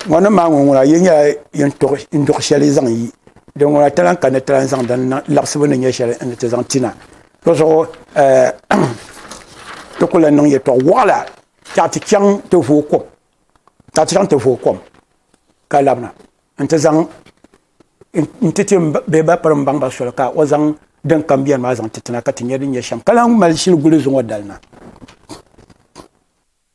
ŋɔ ni maa ŋɔ ŋuna yi nyɛla yin tuɣi n duɣi shɛli zaŋ yi din ŋuna talaŋ ka ni talaŋ zaŋ din labisibu ni nyɛ shɛli n ti zaŋ ti na Di zuɣu ti ku lan niŋ yɛtɔɣ wɔɣila tɛɣu ti chaŋ ti vooi kom tɛɣu ti chaŋ ti vooi kom ka labina nti zaŋ nti ti bee ba piri mbaŋ ba soli ka o zaŋ din kam bɛni maa zaŋ ti tina ka ti nyɛ din nyɛ shɛm ka lan mali shili guli zuŋɔ dalina.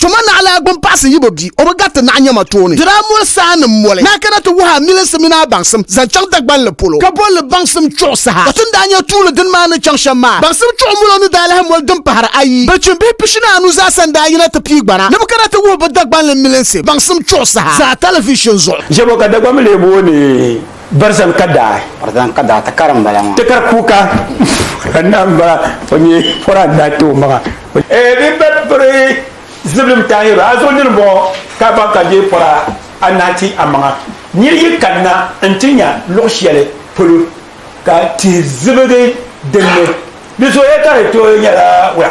Tuma naɣilaa gbuni paɣisi yi bi bi o bi gariti naɣi nyama tooni. Di daa moli saa ni moli ni a kana ti wuhi amilinsi mini a baŋsim zaŋ chaŋ Dagbanli polo ka boli li baŋsim chuɣu saha. Ka ti ni daa nya tuuli dini maa ni chaŋ shɛm maa, baŋsim chuɣu molo ni daa lahi moli din pahiri ayi. Bilichini bihi pishini anu zaasa n-daa yina ti pii gbana ni bɛ kana ti wuhi bɛ Dagbanli milinsi baŋsim chuɣu saha zaa talivishin zuɣu. Jɛbo ka Dagbanmi lee booni. Barzan ka daa. Barzan ka daa tikari n bala ŋɔ. Tikari kuuka ka naa n bala o nyɛ pɔra n daa ti o maŋa. E din be piri zibilim taai yɛro a zuɣu nini bɔŋɔ ka a baŋ ka deei pɔra a naa ti a maŋa. Nir yi kanna n ti nya luɣ shɛli polo ka tihi zibigi din ni, di zuɣu ya ka di tooi nyɛla wula?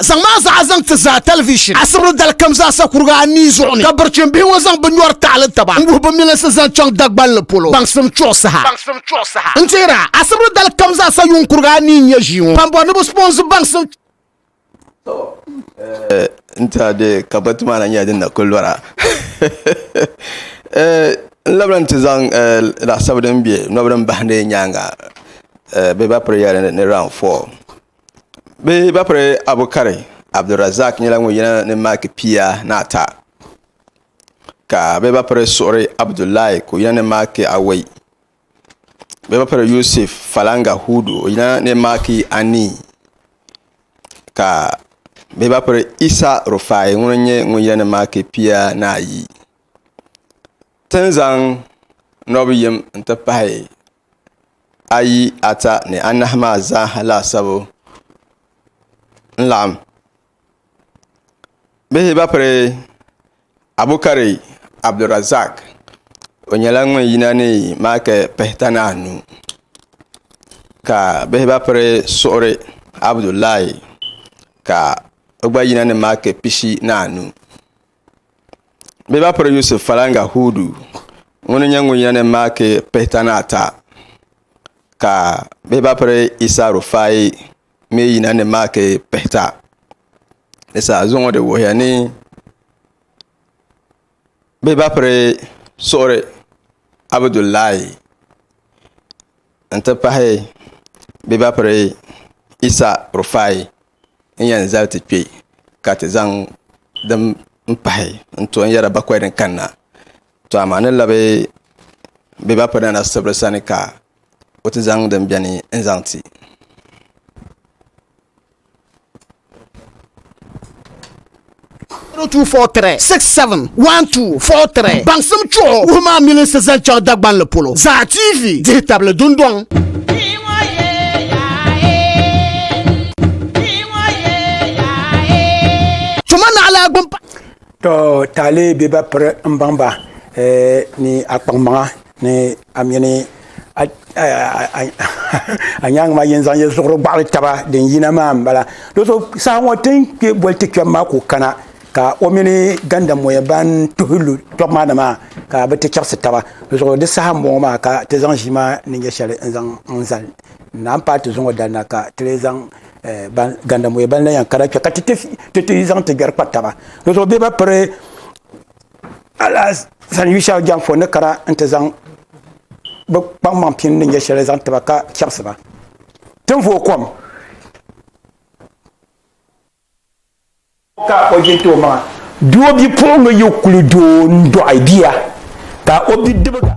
zaŋ maa zaa zaŋ ti zaa tɛlivishin asibili dalikam zaasa kuriga anii zuɣu ni ka birichim bihi ŋɔ zaŋ bi nyɔri taɣili taba n-wuhi bi milinsi zaŋ chaŋ Dagbanli polo baŋsim chuɣu saha. N tihira, asibili dalikam zaasa yuŋ kuriga anii n-nyɛ ʒii ŋɔ pambo ni bi sponsor baŋsim. To eh n tiɛha bɛ kabɔti maa na nyɛla din na kuli lɔra eh n labila n ti zaŋ eh laɣasabu din bɛ nɔbi din bahindi nyaaŋa eh bɛ ba prayer ni round four Bɛ ba piri Abukari Abdulrazak nyɛla ŋun yina ni Maaki pia ni ata ka bɛ ba piri Suɣuri Abudulai ka o yina ni Maaki awɔi bɛ ba piri Yusuf Falanga Hudu o yina ni Maaki anii ka bɛ ba piri Isa Rufai ŋuni n-nyɛ ŋun yina ni Maaki pia ni ayi ti ni zaŋ nɔbi yim n-ti pahi ayi, ata ni anahi maa zaaha laasabu n laɣim bihi ba piri Abukari Abdulrazak o nyɛla ŋun yina ni maaki pihita ni anu ka bihi ba piri Suɣuri Abudulai ka o gba yina ni maaki pishi ni anu Bɛ ba piri Yusuf falaŋga Huudu ŋuni n-nyɛ ŋun yɛn maaki pihitani ata ka bɛ ba piri Yisa Rufai mi yina ni maaki pihita di zaa zuŋɔ di wuhiya ni bɛ ba piri suɣuri Abudulai n-ti pahi bɛ ba piri Yisa Rufai. n yɛn zali ti kpɛ ka ti zaŋ din pahi n to n yɛra bakoy ni kanna to amaa ni labi bɛ ba pina na sibiri sani ka o ti zaŋ din bɛni n zaŋ ti 0243 67 1243 Baŋsim chuɣu wuhi maa milinsi zaŋ chaŋ Dagbanli polo Zaa TV dihi tabili dundɔŋ. Tuma naɣila gbunpa. To taali bɛ ba piri n baŋ ba ni a kpaŋmaŋa ni a mini a nyaŋ maa yin zaŋ yi zuɣuri gbaɣali taba din yina maa n bala do so saha ŋɔ tin kpɛ boli ti kpɛm maa ku kana ka o mini ganda moya ban tuhi lu tɔbu maa na maa ka bi ti chɛbisi taba di zuɣu di saha n bɔŋɔ maa ka ti zaŋ ʒii maa ni nyɛ shɛli n zaŋ n zali naa n paai ti zuŋɔ dali na ka ti lee zaŋ eh, ganda moya ban la yɛn kana kpɛ ka ti ti zaŋ ti gbɛri kpa taba di zuɣu bɛ ba piri alasan yu shɛli jɛŋ fo ni kana nti zaŋ bɛ kpaŋmaŋ pini ni nyɛ shɛli zaŋ tiba ka chɛbisi ba tin vooi kom ka o jinti o maŋa doo bipuɣiŋga yi kuli doo n-dɔɣi bia ka o bidibiga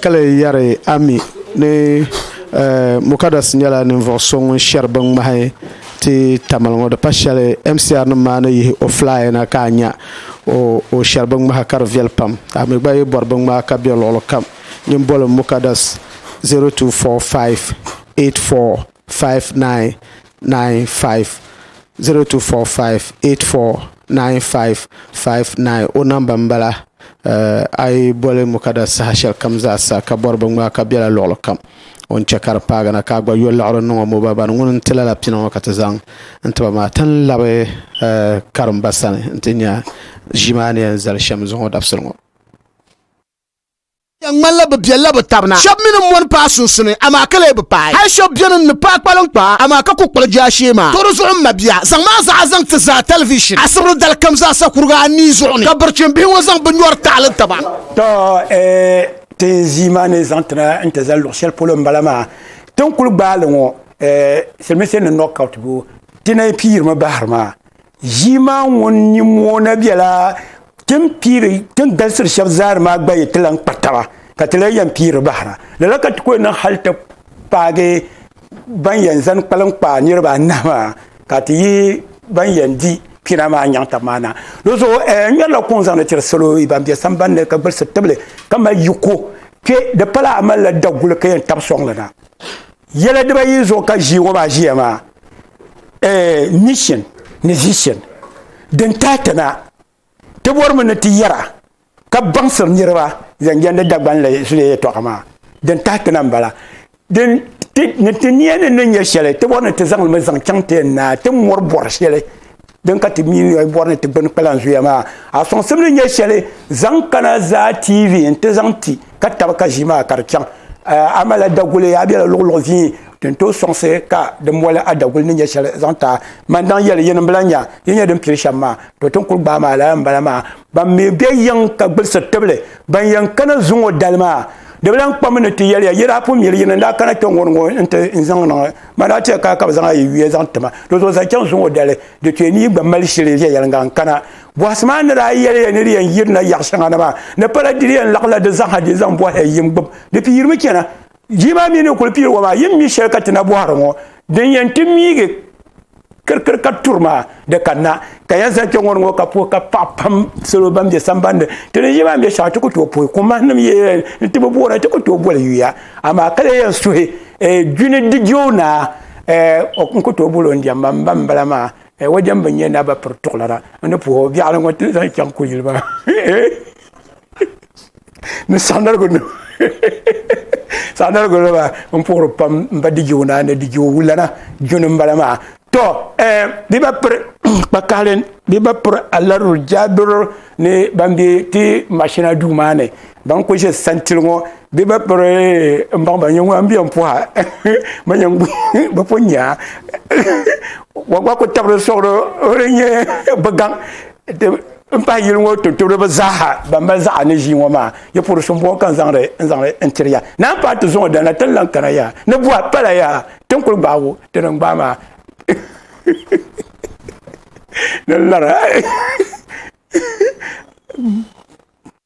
Ka lee yɛri a mi ni Mukadas nyɛla ninvuɣu so ŋun shɛri bin ŋmahi ti Tamale ŋɔ di pa shɛli MCR nim maa ni yihi o flyer na ka a nya o shɛri bin ŋmahi ka di viɛli pam a mi gba yi bɔri bin ŋmahi ka bɛ luɣuli kam nyin boli Mukadas 024584. 0245 o namba n bala a yi boli Mukada saha shɛli kam zaa sa ka bɔri binŋmaa ka bɛla luɣuli kam o ni chɛ ka di paagi na ka a gba yo liɣiri niŋ o mɔba bani ŋuni n tila la pini ŋɔ ka ti zaŋ n tiba maa ti ni labi karimba sani n ti nya ʒii maa ni yɛn zali shɛm zuɣu dabisili ŋɔ. Di ŋmanila bɛ biɛlila bɛ tab na. Shɛb mi ni mɔni paai sunsuni, amaa ka lee bi paai. Hal shɛb beni n-ni paai kpaliŋkpaa, amaa ka ku kpali jaashee maa. Tɔ di zuɣu m mabia, zaŋm a zaɣa zaŋ ti zaa tɛlivishin asibri dali kam zaasa kuriga anii zuɣu ni, ka birichin bihi ŋɔ zaŋ bɛ nyɔri taɣili taba. Tɔ ee, tin ʒii maa ni zaŋ ti na n-ti zali luɣ shɛli polo m-bala maa. Tin kul gbaai li ŋɔ ee, silimiinsi ni knockout bu, ti na yi pii yirimi bahiri maa. Ʒii maa ŋun nyin moona bela tin piiri tin galisiri shɛb zaari maa gba yi ti lan kpa taba ka ti lan yɛn piiri bahira. Lala ka ti ku niŋ hal ti paagi ban yɛn zani kpalim kpaai niriba anahi maa ka ti yihi ban yɛn di pina maa nyaŋ tab maa na. Di zuɣu a yɛn ŋmɛrila kuŋ zaŋdi tiri salo ban be samban ni ka gbilisi tibili ka mali yiko kpe. Di pala a malila daguli ka yɛn tab sɔŋ li na. Yɛla dibayi zuɣu ka ʒii ŋɔ maa ʒiya maa eh, mission ni vision din tahi ti na ti bɔrimi ni ti yɛra ka baŋsiri niriba zaŋ jɛndi Dagbanli zuliya yɛtɔɣa maa din tahi ti na m-bala din ni ti niya ni ni nyɛ shɛli ti bɔri ni ti zaŋ limi zaŋ chaŋ ti yɛn naa ti mɔri bɔri shɛli din ka ti miinɔy bɔri ni ti gbuni kpalan zuya maa a sɔŋsim ni nyɛ shɛli zaŋ kana zaa tv n ti zaŋ ti ka tabi ka ʒi maa ka di chaŋ a mala daguli a bɛla luɣuluɣu vii tin tooi sɔŋsi ka di mɔli a daguli ni nyɛ shɛli zaŋ taa man daŋ yɛli yinim bila nya yi nyɛ din pili shɛm maa to tin kuli gbaa maa lala n bala maa ban mi bɛ yiŋ ka gbilisi tibili ban yɛn kana zuŋɔ dali maa di bi lan kpami ni ti yɛliya yi daa pun miri yini n daa kana kpɛŋ ŋɔ n ti zaŋ niŋ ma daa chɛ ka ka bi zaŋ ayi yuya zaŋ tima di zuɣu zaŋ chaŋ zuŋɔ dali di kpɛ ni yi gba mali shili viɛyɛliŋga n kana bɔhisi maa ni daa yɛliya ni di yɛn yirina yaɣ shɛŋa na maa ni pala di yɛn laɣila di zaŋha di zaŋ bɔhila yim gbib di piirimi chɛna jii maa mi ni kuli piiri wa maa yim mi shɛli ka ti na bɔhiri ŋɔ din yɛn ti miigi kirikiri ka turi maa di ka na ka ya zali kpɛŋɔ ŋɔ ka puhi ka paɣa pam salo ban bɛ sambandi ti ni yi maa bɛ shɛŋa ti ku tooi puhi koma nim yɛn n ti bi boora ti ku tooi boli yuya amaa ka lee yɛn suhi gbini eh, di joo naa eh, n ku tooi bolo n jɛmba n ba n bala maa eh, wa jɛmbi n nyɛ naba piri tuɣulana n ni puhi o biɛɣuni ŋɔ ti zaŋ chaŋ kuyili maa ni saɣanarigu nima saɣanarigu nima n puhiri pam n ba dijiwo na ni dijiwo wulana juni n bala maa to bi ba piri kpa kaɣali bi ba piri alaruru jaadoro ni ban bɛ ti mashina duu maa ni ban ku ʒe santili ŋɔ bi ba piri n baŋ ba nyɛ ŋun n bɛ n puha ma nyɛ bi pun nya wa gba ku tabiri soɣado o di nyɛ bi gaŋ n pahi yili ŋɔ tumtumdiba zaaha ban mali zaɣa ni ʒii ŋɔ maa yi puri so m-bɔŋɔ ka n zaŋdi n zaŋdi n tiri ya naan paai ti zuŋɔ dali na ti lan kana ya ni buha pala ya ti ni kuli gbaagi o ti ni gbaai maa ni lara